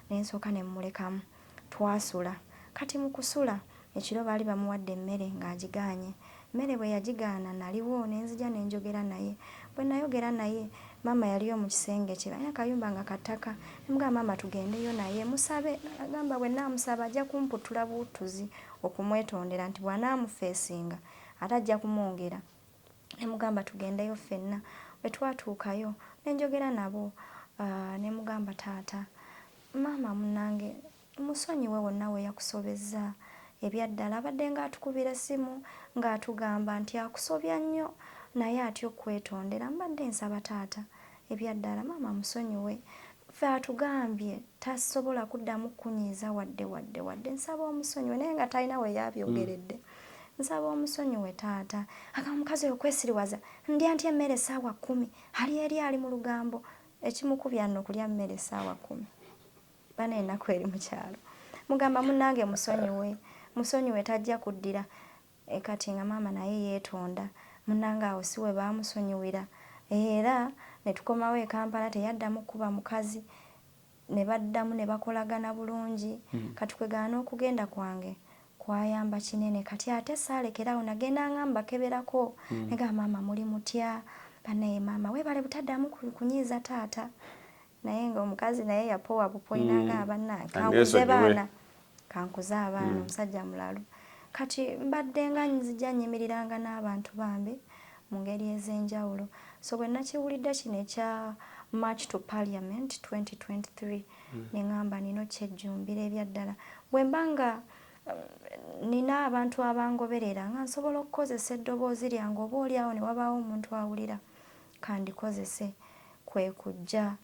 Nensooka nemulekamu. Twasula. Kati mukusula. Ekiro baali bamuwadde emmere nga agigaanye. Mmere bweyagigaana naliwo nenzija nenjogera naye. Bwenayogera naye maama yaliyo mukisenge kye. Balina akayumba nga kattaka. Nemugamba maama tugendeyo naye musabe. Nagamba bwenamusaba ajja kumputtula buuttuzi okumwetondera nti bwanamufeesinga. ate ajja kumwongera. Ne mugamba tugendeyo ffenna. Bwe twatuukayo ne njogera nabo ne mugamba taata, maama munnange musonyiwe wonna we yakusobezza. Ebya ddala abaddenga atukubira essimu ng'atugamba nti akusobya nnyo naye atya okukwetondera. Mbadde nsaba taata Ebyaddala maama musonyiwe ffe atugambye tasobola kuddamu kunyiiza wadde wadde wadde nsaba omusonyiwe naye nga talina weyabyogeredde mm. nsaba omusonyiwe taata agamba omukazi oyo kwesiriwaza ndya nti emmere esaawa kumi ali eri ali mu lugambo ekimukubya nno kulya mmere esaawa kumi bana enaku eri mukyalo mugamba munange musonyiwe musonyiwe tajja kuddira Eeh kati nga maama naye yetonda munange awo siwebamusonyiwira eeh era netukomawo ekampala teyaddamu kukuba mukazi nebaddamu nebakolagana bulungi kati kwegana nokugenda kwange kwayamba kinene kati ate salekerawo nagendanga mbakeberako negamba maama muli mutya banaye maama webale butadamu kunyiiza taata naye nga omukazi naye yapowa bupoina mm. nga abanange kankuze baana kankuze abaana mm. omusajja mulalu kati mbadde nga nzija nyimiriranga n'abantu bambi mu ngeri ez'enjawulo so bwe nakiwulidde kino ekya march to parliament 2023 mm. ne ŋamba nina okyejjumbira ebyaddala bwe mba nga um, nina abantu abangoberera nga nsobola okukozesa eddoboozi lyange oba oli awo ne wabaawo omuntu awulira kandikozese kwe kujja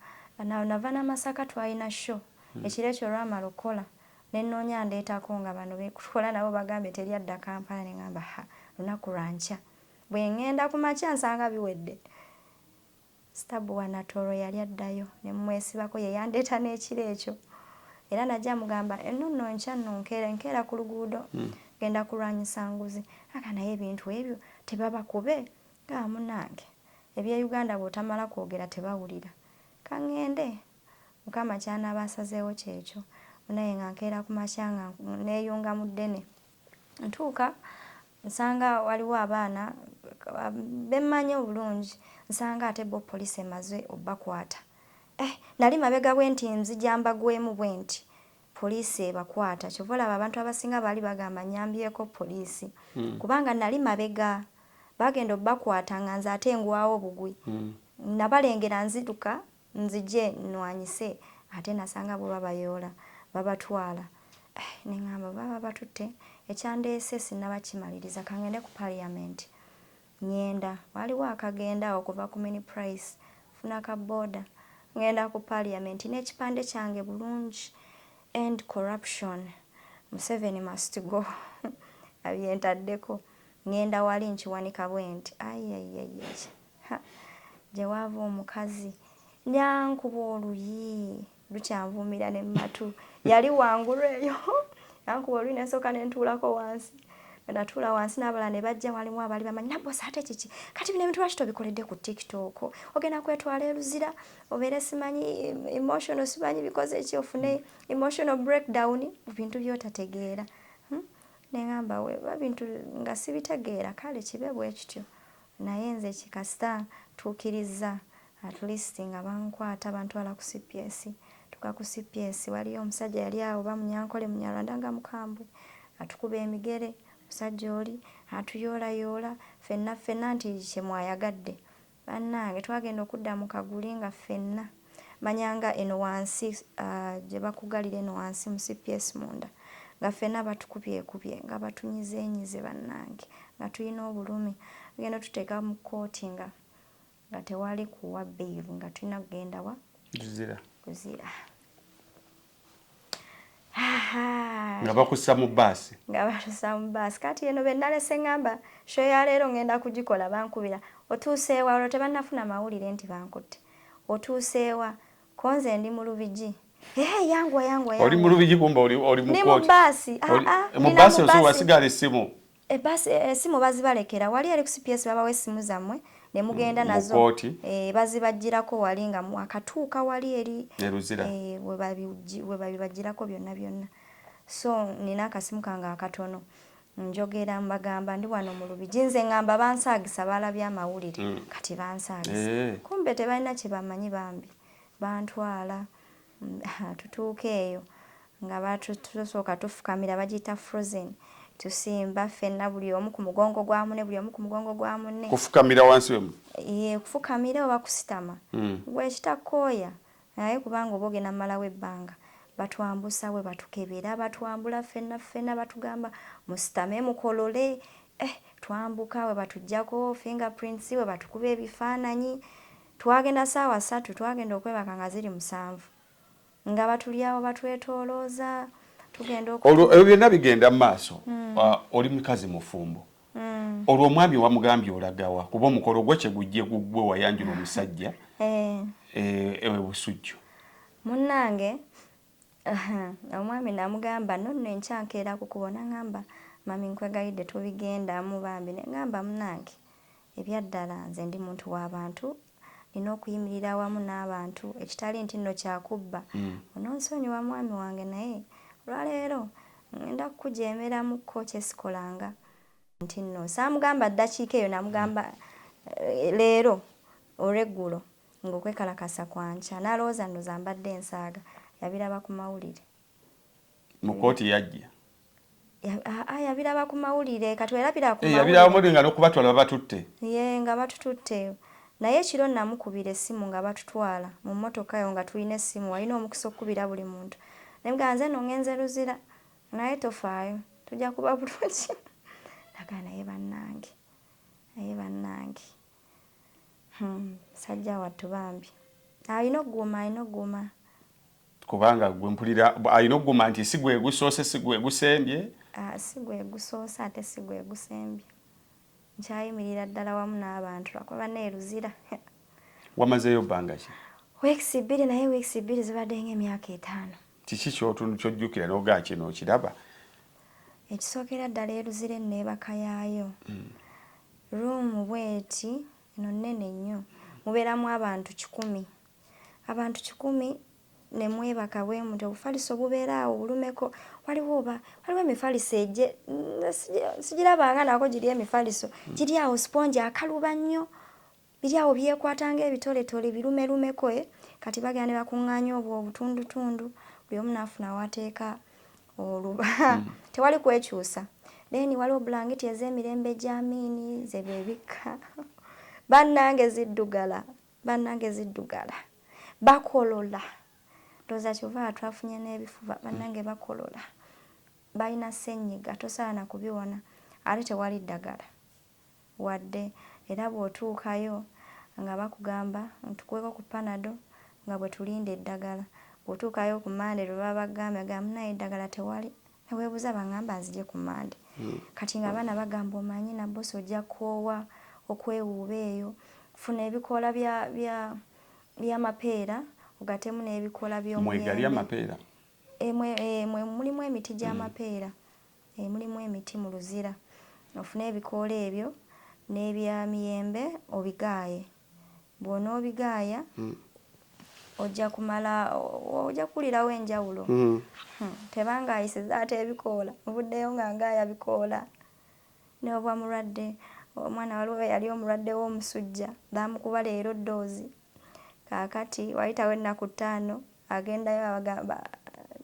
na, nava na Masaka twalina show hmm. ekiro ekyo olwamala okukola ne nnoonya andeetako nga bano be tukola nabo bagambye teri adda Kampala ne ngamba ha lunaku lwa nkya bwe ng'enda ku makya nsanga biwedde sitabu wa Natooro yali addayo ne mmwesibako ye yandeeta n'ekiro ekyo era najja mugamba enno nno nkya nno nkeera nkeera ku luguudo hmm. genda kulwanyisa nguzi aga naye ebintu ebyo tebabakube Haa munange ebye Uganda bwotamala kwogera tebawulira kangende mukama kyanaba asazeewo kyekyo munaye nga nkeera kumakya nga neyunga mu ddene ntuuka nsanga waliwo abaana bemmanyi obulungi nsanga ate bo police emaze obakwata eh nali mabega bwenti nzija mbagwemu bwenti poliisi ebakwata kyova olaba abantu abasinga baali bagamba nyambyeko poliisi mm. kubanga nali mabega bagenda obakwata nga nze ate ngwawo bugwi mm. nabalengera nziduka nzije nwanyise ate nasanga bo babayoola babatwala eh, neŋamba baba batutte ekyandeese sinaba kimaliriza kangende ku parliament Ngenda, waliwo akagenda awo kuva ku mini price, funa ka boda, ngenda ku parliament nekipande kyange bulungi, end corruption, museveni must go abyentaddeko, ngenda wali nkiwanika bwenti ayiayiayiayi ha! Gyewaava omukazi, nja nkuba oluyi. lukyanvuumira ne mu matu yali wangulu eyo nankuba oluyi ne nsooka ne ntuulako wansi bwe natuula wansi n'abalala ne bajja walimu abaali bamanyi nabbosa ate kiki kati bino ebintu lwaki tobikoledde ku tiktok ogenda kwetwala e luzira obeere simanyi emotional simanyi bikoze eki ofune emotional breakdown mu bintu by'otategeera hmm? ne ŋamba weba bintu nga sibitegeera kale kibe bwe kityo Naye nze ki kasita tukirizza at least nga bankwata bantwala ku cps tuka ku cps waliyo omusajja yali awo bamunyankole munyarwanda nga mukambwe atukuba emigere musajja oli atuyoola yoola fenna fenna nti kyemwayagadde banange twagenda okudda mu kaguli nga fenna manya nga eno wansi gyebakugalira eno wansi mu cps munda nga ffena batukubyekubye nga batunyizenyize bannange nga tulina obulumi tugenda tuteeka mu kkooti nga nga tewali kuwa bailu nga tulina kugenda wa kuzira kuzira nga bakussa mu bbaasi nga batusa mu bbaasi kati eno be nalese ngamba sho ya leero ngenda kugikola bankubira otuuseewa olwo tebannafuna mawulire nti bankutte otuuseewa konze ndi mu lubigi Hey, yangu yangu yangu. Oli mu lubigi kumba oli oli mu koti. Ni mu basi. Ah ah. Mu basi oso wasigala esimu. E bus esimu bazibalekera wali eri ku cps babawa esimu zamwe ne mugenda mm, nazo e, bazibajjirako wali nga mwakatuuka wali eri e, we babibajjirako byonna byonna so nina akasimu kange akatono njogera mbagamba ndi wano mu lubigi nze ngamba bansaagisa baalabye amawulire mm. kati bansaagisa eh. kumbe tebalina kyebamanyi bambi bantwala Ha, tutuuka eyo nga batu, tusooka tufukamira, bagiyita frozen, tusimba ffenna, buli omu ku mugongo gwa munne, buli omu ku mugongo gwa munne. Kufukamira wansi we mu. Yee, kufukamira oba kusitama. Mm. Ggwe ekitakooya, naye kubanga oba ogenda malawo ebbanga, batwambusa we batukebera, batwambula ffenna ffenna, batugamba musitame mukolole, eh, twambuka we batuggyako finger prints, we batukuba ebifaananyi, Twagenda ssaawa ssatu, twagenda okwebaka nga ziri musanvu nga batuli awo batwetoolooza tugenda oku. Olwo ebyo byonna bigenda mu maaso, hmm. ah, oli mukazi mufumbo hmm. olwo omwami wamugambye olagawa kuba omukolo gwo kyegujje gugwe wayanjula omusajja eh. Eh, ewe busujju munnange omwami namugamba nonno enkyankeera kukubo nangamba mami nkwegayidde tubigendamu bambi nengamba munange Ebyaddala nze ndi muntu wa bantu, nina okuyimirira awamu n'abantu ekitali nti nno kya kubba. Ononsonyiwa mwami wange naye olwa leero ngenda kukujeemeramukko kye sikolanga nti nno. Saamugamba ddakiika eyo namugamba leero olweggulo ng'okwekalakaasa kwa nkya. N'alowooza nno zambadde nsaaga. Yabiraba ku mawulire. mu kooti yajja yabiraba ku mawulire kati werabira ku eh, yabiraba mawulire nga nokubatwala babatutte ye nga batututte naye ekiro namukubira essimu nga batutwala mu mmotoka yo nga tulina essimu walina omukisa okukubira buli muntu nayegaa nze no ngenze luzira naye tofaayo tujja kuba bulungi nagaa naye bannange naye bannange Hmm, musajja wattu bambi alina okuguma alina okuguma kubanga gwe mpulira alina okuguma nti si gwe gusoose si gwe gusembye ah, si gwe gusoose ate si gwe gusembye nkyayimirira ddala wamu n'abantu lwakuba baneeruzira wamazeeyo bbanga ki weekisi bbiri naye weekisi bbiri zibadde ng'emyaka etaano kiki kyotunu kyojjukira nogaa kino okiraba ekisookera ddala eruzira enneebaka yaayo mm. ruumu bweti eno nnene nnyo mubeeramu abantu kikumi abantu kikumi ne mwebaka bwe mutyo obufaliso obubeera awo bulumeko waliwo oba waliwo emifaliso egye sijirabanga nako giri emifaliso mm. giri awo sipongi akaluba nnyo Biri awo byekwata ng'ebitoletole birumelumeko eh, kati bagenda ne bakuŋŋaanya obwo obutundutundu buli omu n'afuna w'ateeka oluba. Hmm. Tewali kwekyusa. Then waliwo bulangiti ez'emirembe gya miini ze beebikka. Bannange ziddugala, bannange ziddugala. Bakolola. Ndowooza kyova twafunye n'ebifuba, bannange bakolola. Balina ssennyiga, tosaana kubiwona. Ate tewali ddagala. wadde era bw'otuukayo nga bakugamba tukuweeko ku panado nga bwe tulinda eddagala, bw'otuukayo ku Monday lwe baba bakugambye ogamba munnaaye eddagala tewali ne weebuuza bangamba nzije ku Monday kati ng'abaana bagamba omanyi Nabbosa ojja kukoowa okwewuuba eyo, funa ebikoola bya bya by'amapeera ogattemu n'ebikoola by'omuyembe. Mwegali amapeera? Eeh mulimu emiti gy'amapeera. emulimu emiti mu Luzira ofune ebikoola ebyo n'ebya miyembe obigaaye. Bw'onoobigaaya ojja kumala ojja kuwulirawo enjawulo. Tebanga ayisiza ate ebikoola nvuddeyo nga ngaaya bikoola n'obwa mulwadde omwana waliwo eyali omulwadde w'omusujja baamukuba leero ddoozi. Kaakati waayitawo ennaku ttaano, agendayo abagamba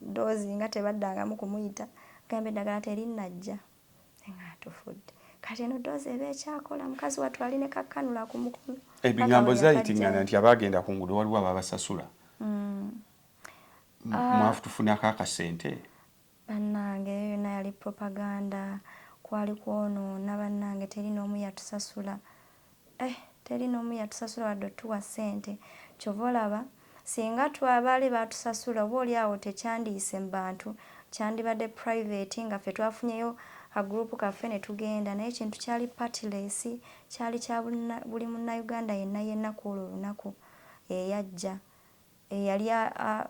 ddoozi nga tebaddangamu kumuyita, agamba eddagala terinnajja nga atufudde. Kati eno ddoozi eba ekyakola, mukazi wattu ali ne kakkanula ku mukono. Ebigambo zaayitingana nti abaagenda ku nguudo waliwo ababasasula. Mm. Ah. Mwafutufunako akasente? Banange eyo yona yali propaganda kwali kwonona banange teli nomu yatusasula ehh teli nomu yatusasula wadde otuwa sente kyova olaba singa twa baali batusasula oba oli awo tekyandiyise mubantu kyandibadde private nga ffe twafunyeyo ka group kaffe netugenda naye ekintu kyali partless kyali kya buli munauganda yenna yenna kwolwo olunaku eyajja eyali a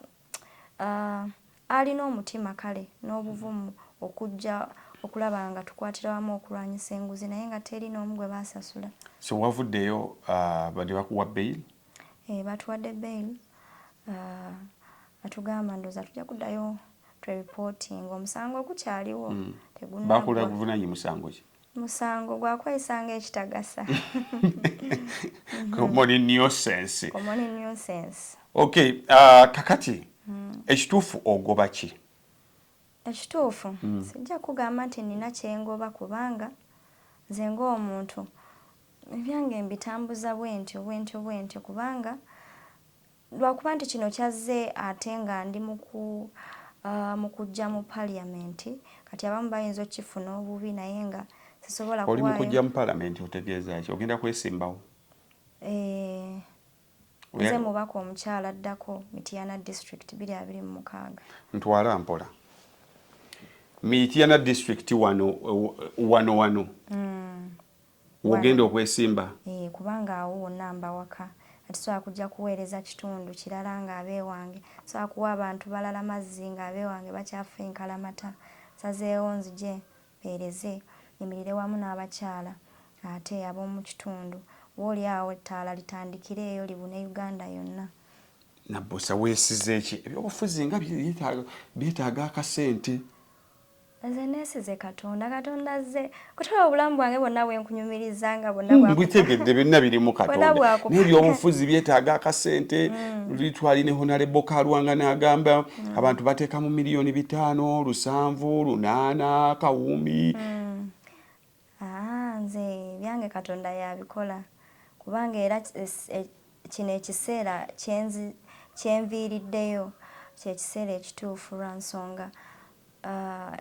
Uh, alina omutima kale n'obuvumu okujja okulaba nga tukwatira wamu okulwanyisa enguzi naye nga teri n'omu gwe basasula so wavuddeyo uh, bade bakuwa bail e, eh, batuwadde bail uh, atugamba ndoza tujja kuddayo twereporting omusango ogukyaliwo mm. tegunakula guvunanye musango ki musango gwakweyisa nga ekitagasa komoni nuisance komoni nuisance okay uh, kakati mm. ekituufu ogoba ki ekituufu mm. sijja kugamba nti nina kyengoba kubanga nze ngaomuntu ebyange mbitambuza bwentyo bwentyo bwentyo kubanga Lwakuba nti kino kyazze ate nga ndi mu kujja mu parliament kati abamu bayinza okukifuna obubi naye nga sisobola kuwaayo. Oli mu kujja mu parliament otegeeza ki? Ogenda kwesimbawo? Eeh. Nze mubaka omukyala addako Mityana district biri abiri mu mukaaga. Ntwala mpola. Mityana district wano wano wano. Mm. wogenda okwesimba eh, kubanga awo wonna mba waka ati sobola kujja kuweereza kitundu kirala nga abeewange sobola kuwa abantu balala mazzi nga abeewange bakyafa enkalamata nsazeewo nzije mpeereze nyimirire wamu n'abakyala ate ab'omu kitundu oba oli awo ettaala litandikireeyo libune uganda yonna nabbosa weesize ki ebyobufuzi nga byetaaga akasente Nze nesize Katonda, Katonda azze kutwala obulamu bwange bwonna bwenkunyumiriza nga bwonna hmm, bwakutegedde byonna biri mu Katonda naye byobufuzi byetaaga akasente hmm. luli twali ne Honalebo Kalwanga n'agamba hmm. abantu bateeka mu miliyoni bitaano lusanvu lunaana kawumbi Haa nze ebyange katonda yabikola kubanga era e, kino ekiseera kyenzi kyenviiriddeyo kyekiseera ekituufu lwa nsonga uh,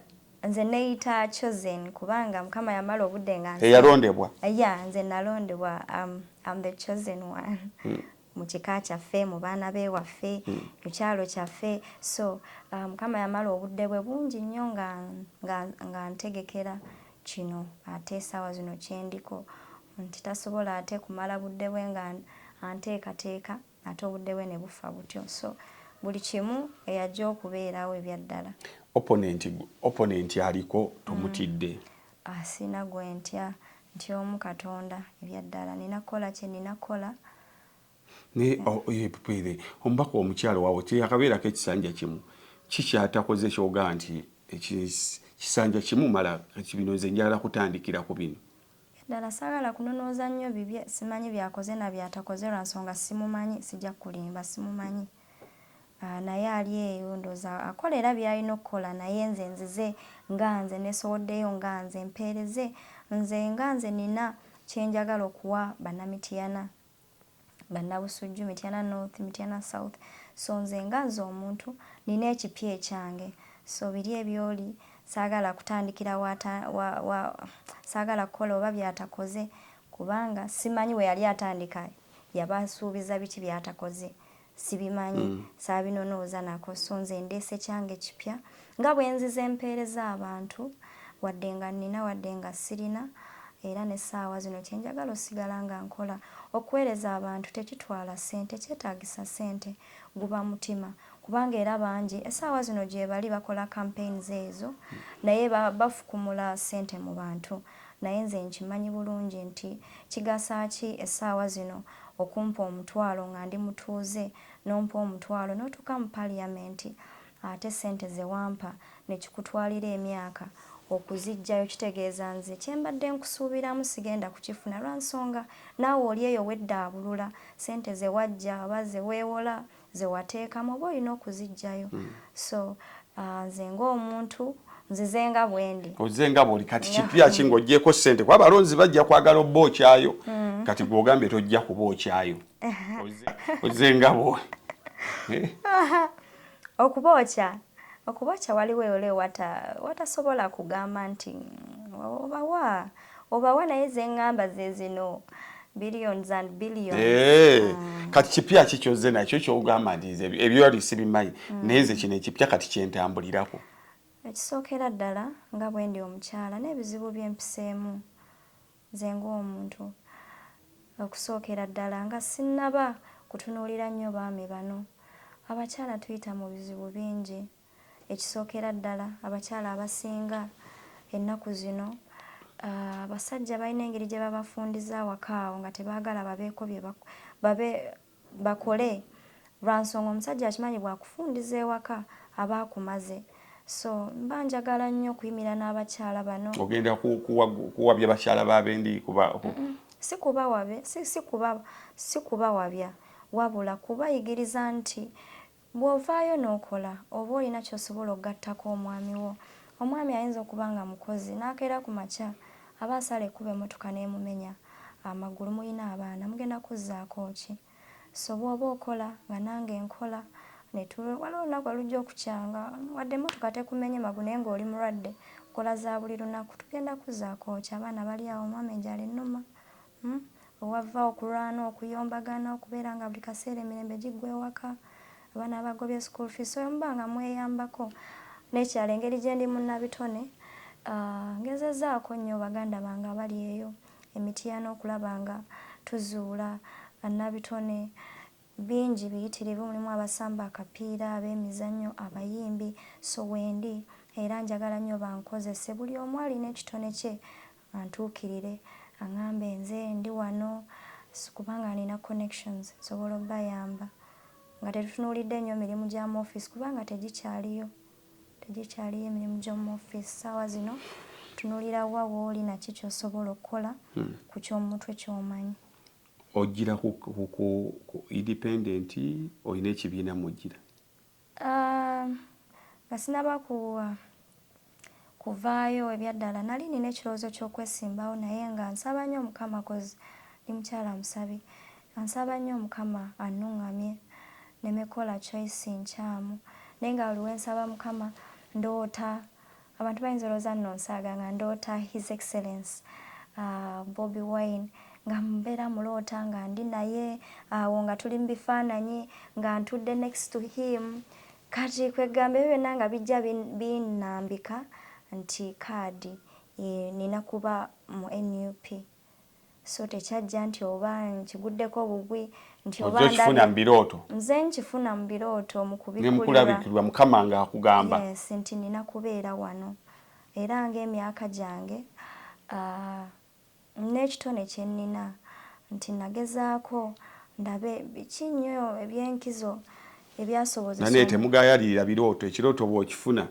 nze neyita chosen kubanga mukama yamala obudde nga eyalondebwa ya nze nalondebwa um, am the chosen one hmm. mu kika kyaffe mu baana bewaffe mm. ku kyalo kyaffe so uh, mukama um, yamala obudde bwe bungi nnyo nga, nga, nga ntegekera kino ate esaawa zino kyendiko nti tasobola ate kumala budde bwe nga anteekateeka ate obudde bwe ne bufa butyo so buli kimu eyajja okubeerawo ebyaddala opponenti aliko tomutidde mm. Asina gwe ntya, ntya omu Katonda, ebya ddala. Nina kukola kye nina kukola. Naye o, ye, pwere, omubaka omukyala wawe teyakabeerako ekisanja kimu? Ki kyatakoze kyogamba nti eki, kisanja kimu mala? Kati bino nze njagala kutandikira ku bino. Ebya ddala, saagala kunonooza nnyo bibye, simanyi byakoze na byatakoze lwa nsonga simumanyi. Sija kukulimba, simumanyi. Ah, naye ali eyo ndoza akola era byalina okukola naye nze nzize nga nze nesowoddeyo nga nze mpeereze nze nga nze nina kyenjagala okuwa banamitiyana banabusujju mityana north mityana south so nze nga nze omuntu nina ekipya ekyange so biri ebyoli saagala kutandikira wata wa, wa, saagala kukola oba byatakoze kubanga simanyi we yali atandika yabansuubiza biki byatakoze sibimanyi mm. saabinonooza nako so nze ndeese kyange kipya nga bwenziza empeereza abantu wadde nga nnina wadde nga sirina era n'essaawa zino kye njagala osigala nga nkola okuweereza abantu tekitwala ssente kyetaagisa ssente guba mutima kubanga era bangi essaawa zino gyebali bakola campaigns ezo naye bafukumula ssente mu bantu Naye nze nkimanyi bulungi nti kigasa ki esaawa zino okumpa omutwalo nga ndi mutuuze nompa omutwalo notuuka mu parliament ate sente zewampa nekikutwalira emyaka okuzijjayo kitegeeza nze kyembadde nkusuubiramu sigenda kukifuna lwansonga naawe oli eyo weddaabulula sente zewajja oba zewewola zewateekamu oba olina okuzijjayo so uh, nze ng'omuntu nzize nga bwendi ozize nga bwoli kati kipya ki ng'ogyeko ssente kuba abalonzi bajja kwagala obba okyayo mm. kati gwogambye tojja kuba okyayo ozize nga bwoli eh? okuba okya okuba okya waliwo eolo watasobola kugamba nti obawa obawa naye zengamba zezino billions and billions hey. Eh, mm. kati kipya ki kyozze nakyo kyogamba nti nze ebyoli sibimanyi mm. naye nze kino ekipya kati kyentambulirako ekisookera ddala nga bwendi omukyala n'ebizibu byempiseemu nze ng'omuntu okusookera ddala nga sinnaba kutunuulira nnyo baami bano abakyala tuyita mu bizibu bingi Ekisookera ddala abakyala abasinga ennaku zino abasajja balina engeri gye babafundiza awaka awo nga tebaagala babeeko bye babe bakole lwa nsonga omusajja akimanyi bwakufundiza ewaka aba akumaze so mba njagala nnyo okuyimira n'abakyala bano ogenda kuwabya bakyala babendi kuba si kubawabya si kubawabya wabula kubayigiriza nti Bw'ovaayo n'okola oba olina ky'osobola okugattako omwami wo. Omwami ayinza okuba nga mukozi n'akeera ku makya aba asala ekkubo emmotoka n'emumenya amagulu. Mulina abaana, mugenda kuzzaako ki? So bw'oba okola nga nange nkola ne tu, waliwo olunaku lwe lujja okukyanga wadde emmotoka tekumenye magulu naye ng'oli mulwadde, nkola za buli lunaku. Tugenda kuzzaako ki? Abaana bali awo, omwami enjala ennuma, We wava okulwana, okuyombagana, okubeera nga buli kaseera emirembe giggwa ewaka, abaana babagobye school fees, so bwe muba nga mweyambako. N'ekirala engeri gye ndi munnabitone, ngezezzaako nnyo baganda bange abali eyo e Mityana okulaba nga tuzuula bannabitone bingi biyitirivu, mulimu abasamba akapiira, abeemizannyo, abayimbi, so wendi era njagala nnyo bankozese. Buli omu alina ekitone kye antuukirire angambe nze ndi wano sikuba nga nina connections nsobola obayamba nga tetutunuulidde nnyo mirimu gya mu office kubanga tegikyaliyo tegikyaliyo emirimu gy'omu office ssaawa zino tunuulira wa wooli naki kyosobola okukola hmm. ku ky'omutwe kyomanyi ojjira ku independent olina ekibiina mujjira Ah, nga sinaba kuwa ah, kuvaayo ebyaddala nali nina ekirowoozo ky'okwesimbawo naye nga nsaba nnyo Mukama koz ndi mukyala musabi nsaba nnyo Mukama annungamye neme kola choice nkyamu naye nga buli wensaba Mukama ndoota Abantu bayinza olowooza nno nsaaga nga ndoota his excellence uh, Bobi Wine nga mbeera muloota nga ndi naye awo uh, nga tuli mu bifaananyi nga ntudde next to him kati kwegamba ebyo byonna nga bijja binambika nti kaadi e, nina kuba mu nup so tekyajja nti oba nkiguddeko bugwi nti oba nkifuna mu birooto nze nkifuna mu birooto mu kubikulabikirwa mukama nga akugamba yes, nti nina kubeera wano era ng'emyaka gyange uh, n'ekitone kye nnina nti nagezaako ndabe biki nnyo eby'enkizo ebyasobozesa naye temugayalirira birooto ekirooto bw'okifuna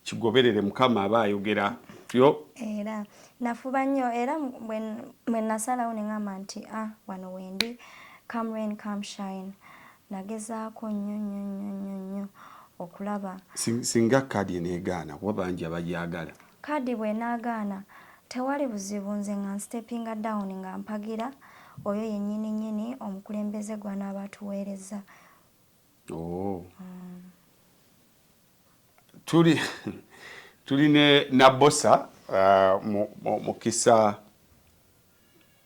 Kigoberere mukama aba ayogera yo. Era nafuba nnyo era bwe nasalawo ne ngamba nti ah wano wendi come rain come shine nagezaako nnyo nnyo nnyo nnyo nnyo okulaba singa kaadi eneegaana kuba bangi abagyagala kaadi bw'enaagaana tewali buzibu nze nga nstepinga down nga mpagira oyo yennyini nnyini omukulembeze gw'anaaba atuweerezza Oh. tuli tuli ne nabosa uh, mukisa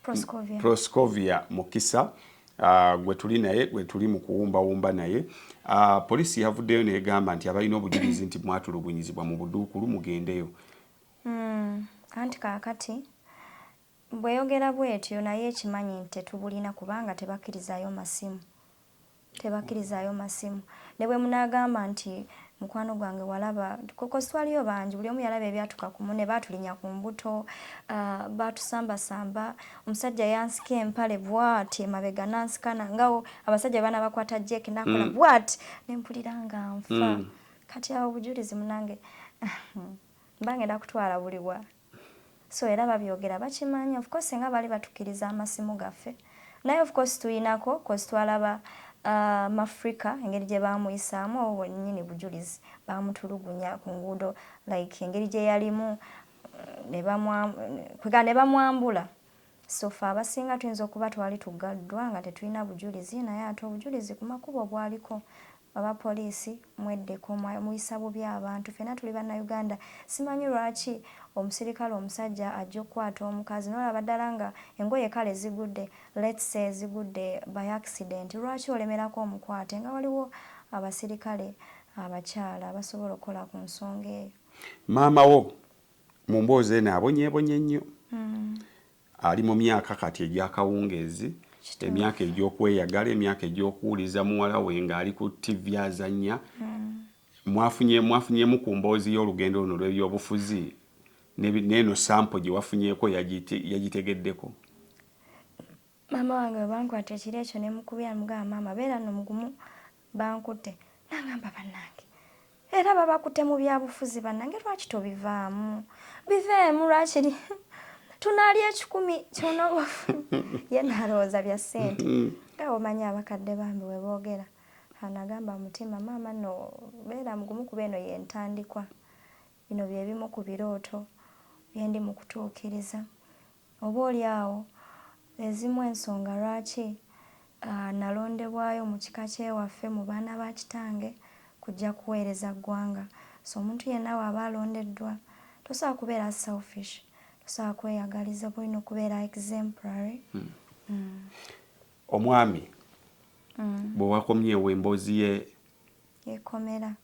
proscovia, proscovia mukisa uh, gwe tuli naye gwe tuli mu kuwumbawumba naye uh, poliisi yavuddeyo negamba nti abalina obujulizi nti mwatulugunyizibwa mu buduukulu mugendeyo mm, anti kakati Bweyogera bwetyo naye ekimanyi nti tetubulina kubanga tebakirizayo masimu tebakirizayo masimu nebwemunagamba nti mukwano gwange walaba coz twaliyo bangi buli omu yalaba ebyatuka ku mune batulinya ku mbuto batusamba samba omusajja yansika empale bwati emabega nansikana ngawo abasajja bana bakwata jake nakola mm. bwati nempulira nga nfa mm. kati awo obujulizi munange mbangenda kutwala buliwa So era babyogera bakimanyi of course singa bali batukiriza amasimu gaffe naye of course tuyinako cause twalaba uh, mafrica engeri gye bamuyisaamu obo bwenyini bujulizi bamutulugunya ku nguudo like engeri gye yalimu kwegamba ne bamwambula so fe abasinga tuyinza okuba twali tugaddwa nga tetulina bujulizi naye ate obujulizi ku makubo bwaliko Aba police mweddeko muyisa bubi abantu fena tuli banna Uganda simanyi lwaki omusirikale omusajja ajja okukwata omukazi nolaba ddala nga engoye kale zigudde let's say zigudde by accident lwaki olemerako omukwate nga waliwo abasirikale abakyala abasobola okukola ku nsonga eyo. Maama wo mu mboozi eno abonyebonye nnyo. Ali mu myaka kati egy'akawungeezi, emyaka egy'okweyagala, emyaka egy'okuwuliza muwala we ng'ali ku ttivvi azannya. Mwafunye mwafunyemu ku mboozi y'olugendo luno lw'ebyobufuzi n'ebi- n'eno sampo gye wafunyeeko yagite- yagitegeddeko? maama wange bwe bankwata ekiro ekyo ne mukubira mugamba maama beera no mugumu Bankutte nangamba banange era babakutte mu byabufuzi banange lwaki tobivaamu biveemu lwakiri tunaalya ekikumi kyonoba ye nalowooza bya ssente nga omanyi abakadde bambi we boogera anagamba mutima maama no beera mugumu kuba eno yentandikwa bino bye bimu ku birooto bye ndi mu kutuukiriza Oboolyawo z'ezimu ensonga lwaki nnalondebwayo mu kika ky'ewaffe mu baana ba kitange kujja kuweereza ggwanga. So omuntu yenna bw'aba alondeddwa, tosobola kubeera selfish, tosobola kweyagaliza, oba olina okubeera exemplary. Omwami bwe wakomyewo emboozi ye yekomera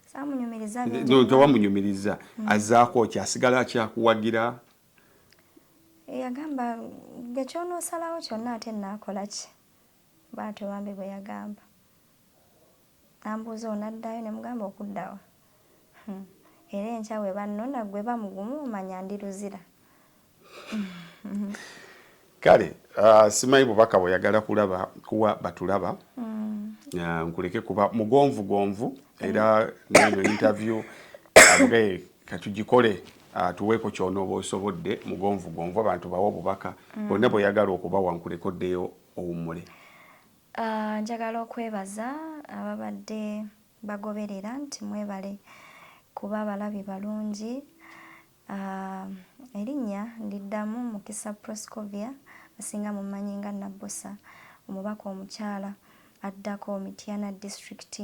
saamunyumiriza bingi. Tewamunyumiriza, azzaako ki? Asigala akyakuwagira? yagamba gwe ky'onoosalawo kyonna ate nnaakola ki bw'atyo bambi bwe yagamba ambuuza onaddayo ne mugamba okuddawa hmm. era enkya bwe bannona gwe bamugumu omanya ndi luzira kale uh, simanyi bubaka bweyagala kulaba kuwa batulaba mm. uh, nkuleke kuba mugonvu gonvu era neno interview abge katugikole uh, tuweeko kyonooba osobodde mugonvu gonvu abantu bawa obubaka mm. bonna bweyagala okubawa nkuleke oddeyo owummule uh, njagala okwebaza ababadde bagoberera nti mwebale kuba abalabi balungi Uh, erinnya ndiddamu Mukisa Proscovia asinga mummanyi nga Nabbosa omubaka omukyala addako Mityana District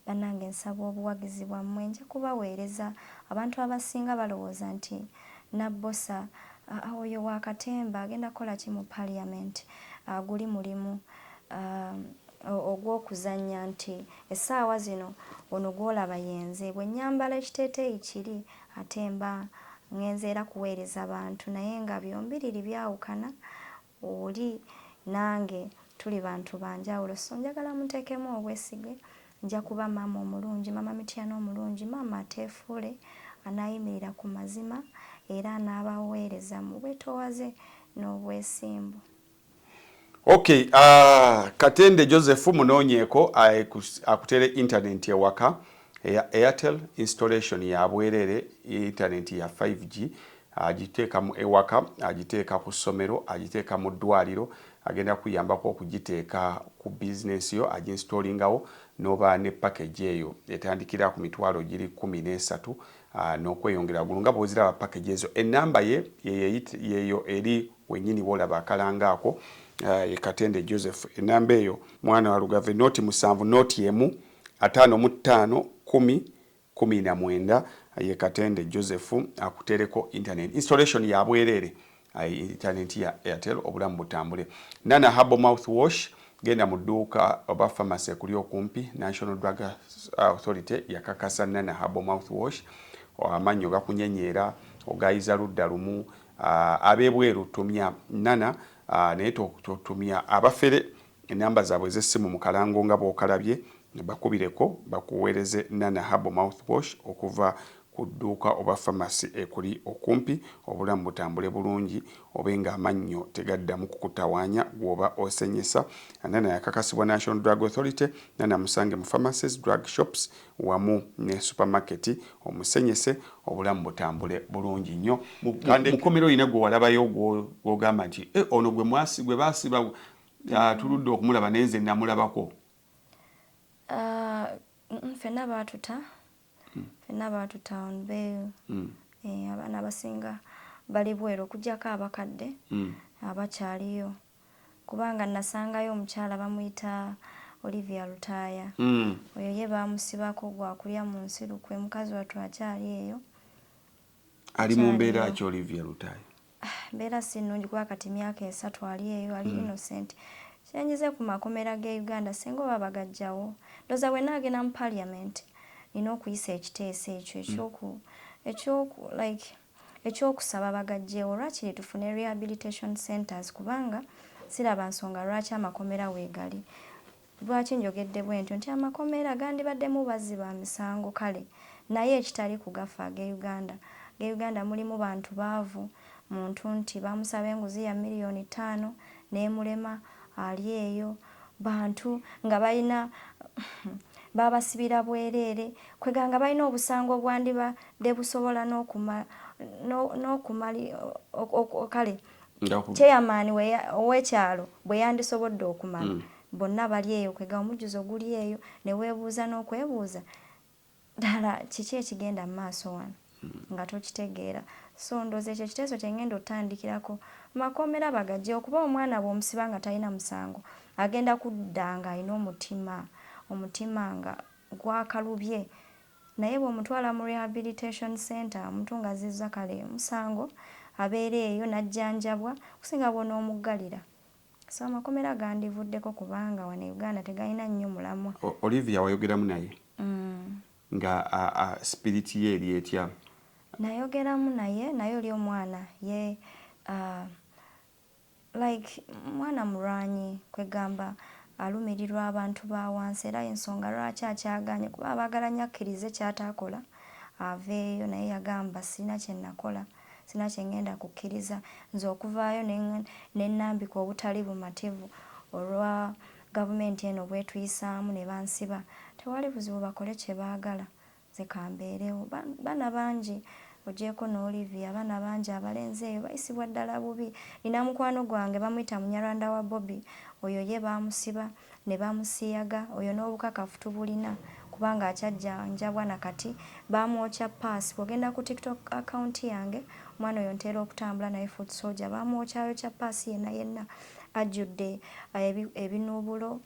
banange nsaba obuwagizi bwammwe nja kubaweereza abantu abasinga balowooza nti Nabbosa uh, oyo wa katemba agenda kukola ki mu parliament uh, guli mulimu uh, ogw'okuzannya nti essaawa zino ono gw'olaba yenze bwe nnyambala ekiteeteeyi kiri Ate mba ngenze era kuweereza bantu naye nga byombiriri byawukana, oli nange tuli bantu ba njawulo so njagala munteekemu obwesige nja kuba maama omulungi, Maama Mityana omulungi, maama ateefuule, anaayimirira ku mazima era anaabaweereza mu bwetoowaze n'obwesimbu. ok uh, katende joseph munoonyeeko akutere internet ewaka eya airtel installation yabwerere internet ya 5g agiteeka mu ewaka agiteeka ku ssomero agiteeka mu ddwaliro agenda kuyambako okugiteeka ku bizinensi yo aginstallingawo noba ne package eyo etandikira ku mitwalo giri kumi n'esatu ah, n'okweyongera gulu nga bwoziraba package ezo enamba ye yeyo eri wenyini wolaba akalango ako ye katende Joseph enamba eyo mwana wa lugave noti musanvu noti emu atano mu tano kumi kumi na mwenda ye katende Joseph akutereko internet installation ya bwerere ayi internet ya airtel obulamu butambule nana habo mouth wash genda mu duuka oba pharmacy kuli okumpi national drug authority yakakasa nana habo mouth wash amannyo gakunyenyeera ogayiza ludda lumu Uh, abebweru tumya nana uh, naye totumya abafere enamba zaabwe ez'essimu mu kalango nga bw'okalabye bakubireko bakuweereze nana habo mouthwash okuva ku dduuka oba famasi ekuli okumpi obulamu butambule bulungi obe ng'amannyo tegaddamu kukutawaanya gw'oba osenyesa nana yakakasibwa national drug authority nana musange mu famacies drug shops wamu ne supermarket omusenyese obulamu butambule bulungi nnyo. Mukomera olina gwe walabayo gwogamba nti eh, ono gwe basiba ah, tuludde okumulaba naye nze namulabako? Ah, fenna baatuta hmm. fenna baatuta on bail hmm. eh, abaana abasinga bali bweru okujjako abakadde hmm. abakyaliyo kubanga nnasangayo omukyala bamuyita Olivia Lutaaya oyo ye baamusibako gwa kulya mu nsi lukwe mukazi wattu akyali eyo. Ali mu mbeera ki Olivia Lutaaya? Mbeera si nnungi kuba kati myaka esatu ali eyo ali innocent. Kye njize ku makomera g'e Uganda singa oba bagaggyawo ndowooza bwe nnaagenda mu parliament nnina okuyisa ekiteeso ekyo ekyoku ekyoku like. Eky'okusaba bagaggyewo lwakiri tufune rehabilitation centres kubanga siraba nsonga lwaki amakomera weegali. Lwaki njogedde bwentyo nti amakomera gandibaddemu bazzi ba misango kale naye ekitali ku gaffe ag'e Uganda. Ag'e Uganda mulimu bantu baavu, muntu nti baamusaba enguzi ya million ttaano n'emulema ali eyo. bantu nga balina babasibira bwereere kweganga balina obusango obwandiba de busobola n'okumali kale chairman ow'ekyalo bwe yandisobodde okumala mm. bonna bali eyo kwega omujjuzo guli eyo ne weebuuza n'okwebuuza ddala kiki ekigenda mu maaso wano nga tokitegeera so ndooza ekyo ekiteeso kye ngenda otandikirako makomera bagagye okuba omwana bwomusiba nga talina musango agenda kudda nga alina omutima omutima nga gwakalubye naye bwomutwala mu rehabilitation center omuntu nga azizza kale musango abeera eyo najjanjabwa kusinga bwonoomuggalira So amakomera gandivuddeko kubanga wano e Uganda tegalina nnyo mulamwa. Olivia wayogeramu naye mm. nga spirit ye eri etya? Nayogeramu naye naye oli omwana ye uh, like mwana mulwanyi kwegamba alumirirwa abantu ba wansi era ensonga lwaki akyaganye kuba abaagala nnyo akkirize ky'ataakola aveeyo naye yagamba sirina kye nakola. Sirina kye ngenda kukkiriza nze okuvaayo ne nnambika obutali bumativu olwa gavumenti eno bw'etuyisaamu ne bansiba. Tewali buzibu bakole kye baagala nze ka mbeerewo. Baana bangi oggyeeko ne Olivia, abaana bangi abalenzi eyo bayisibwa ddala bubi. Nnina mukwano gwange bamuyita Munyarwanda wa Bobi, oyo ye baamusiba. ne bamusiyaga oyo n'obukakafu tubulina kubanga akyajjanjabwa na kati baamwokya ppaasi bw'ogenda ku TikTok account yange omwana oyo ntera okutambula naye foot soldier baamwokyayokya ppaasi yenna yenna ajjudde eh, ebinuubulo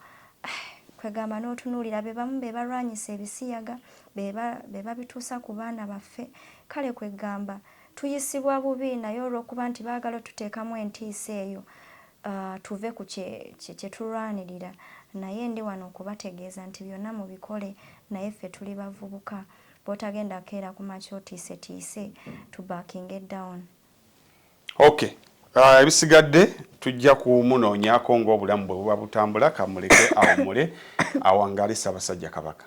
kwegamba n'otunuulira be bamu be balwanyisa ebisiyaga be babituusa ku baana baffe kale kwegamba tuyisibwa bubi naye olw'okuba nti baagala otuteekamu entiisa eyo Uh, tuve ku kye, kye, kye tulwanirira naye ndi wano okubategeeza nti byonna mubikole naye ffe tuli bavubuka bwotagenda keera ku makya otiise tiise to backing it down ok uh, ebisigadde tujja kumunoonyako ng'obulamu bwe buba butambula kamuleke awumule awangale ssabasajja kabaka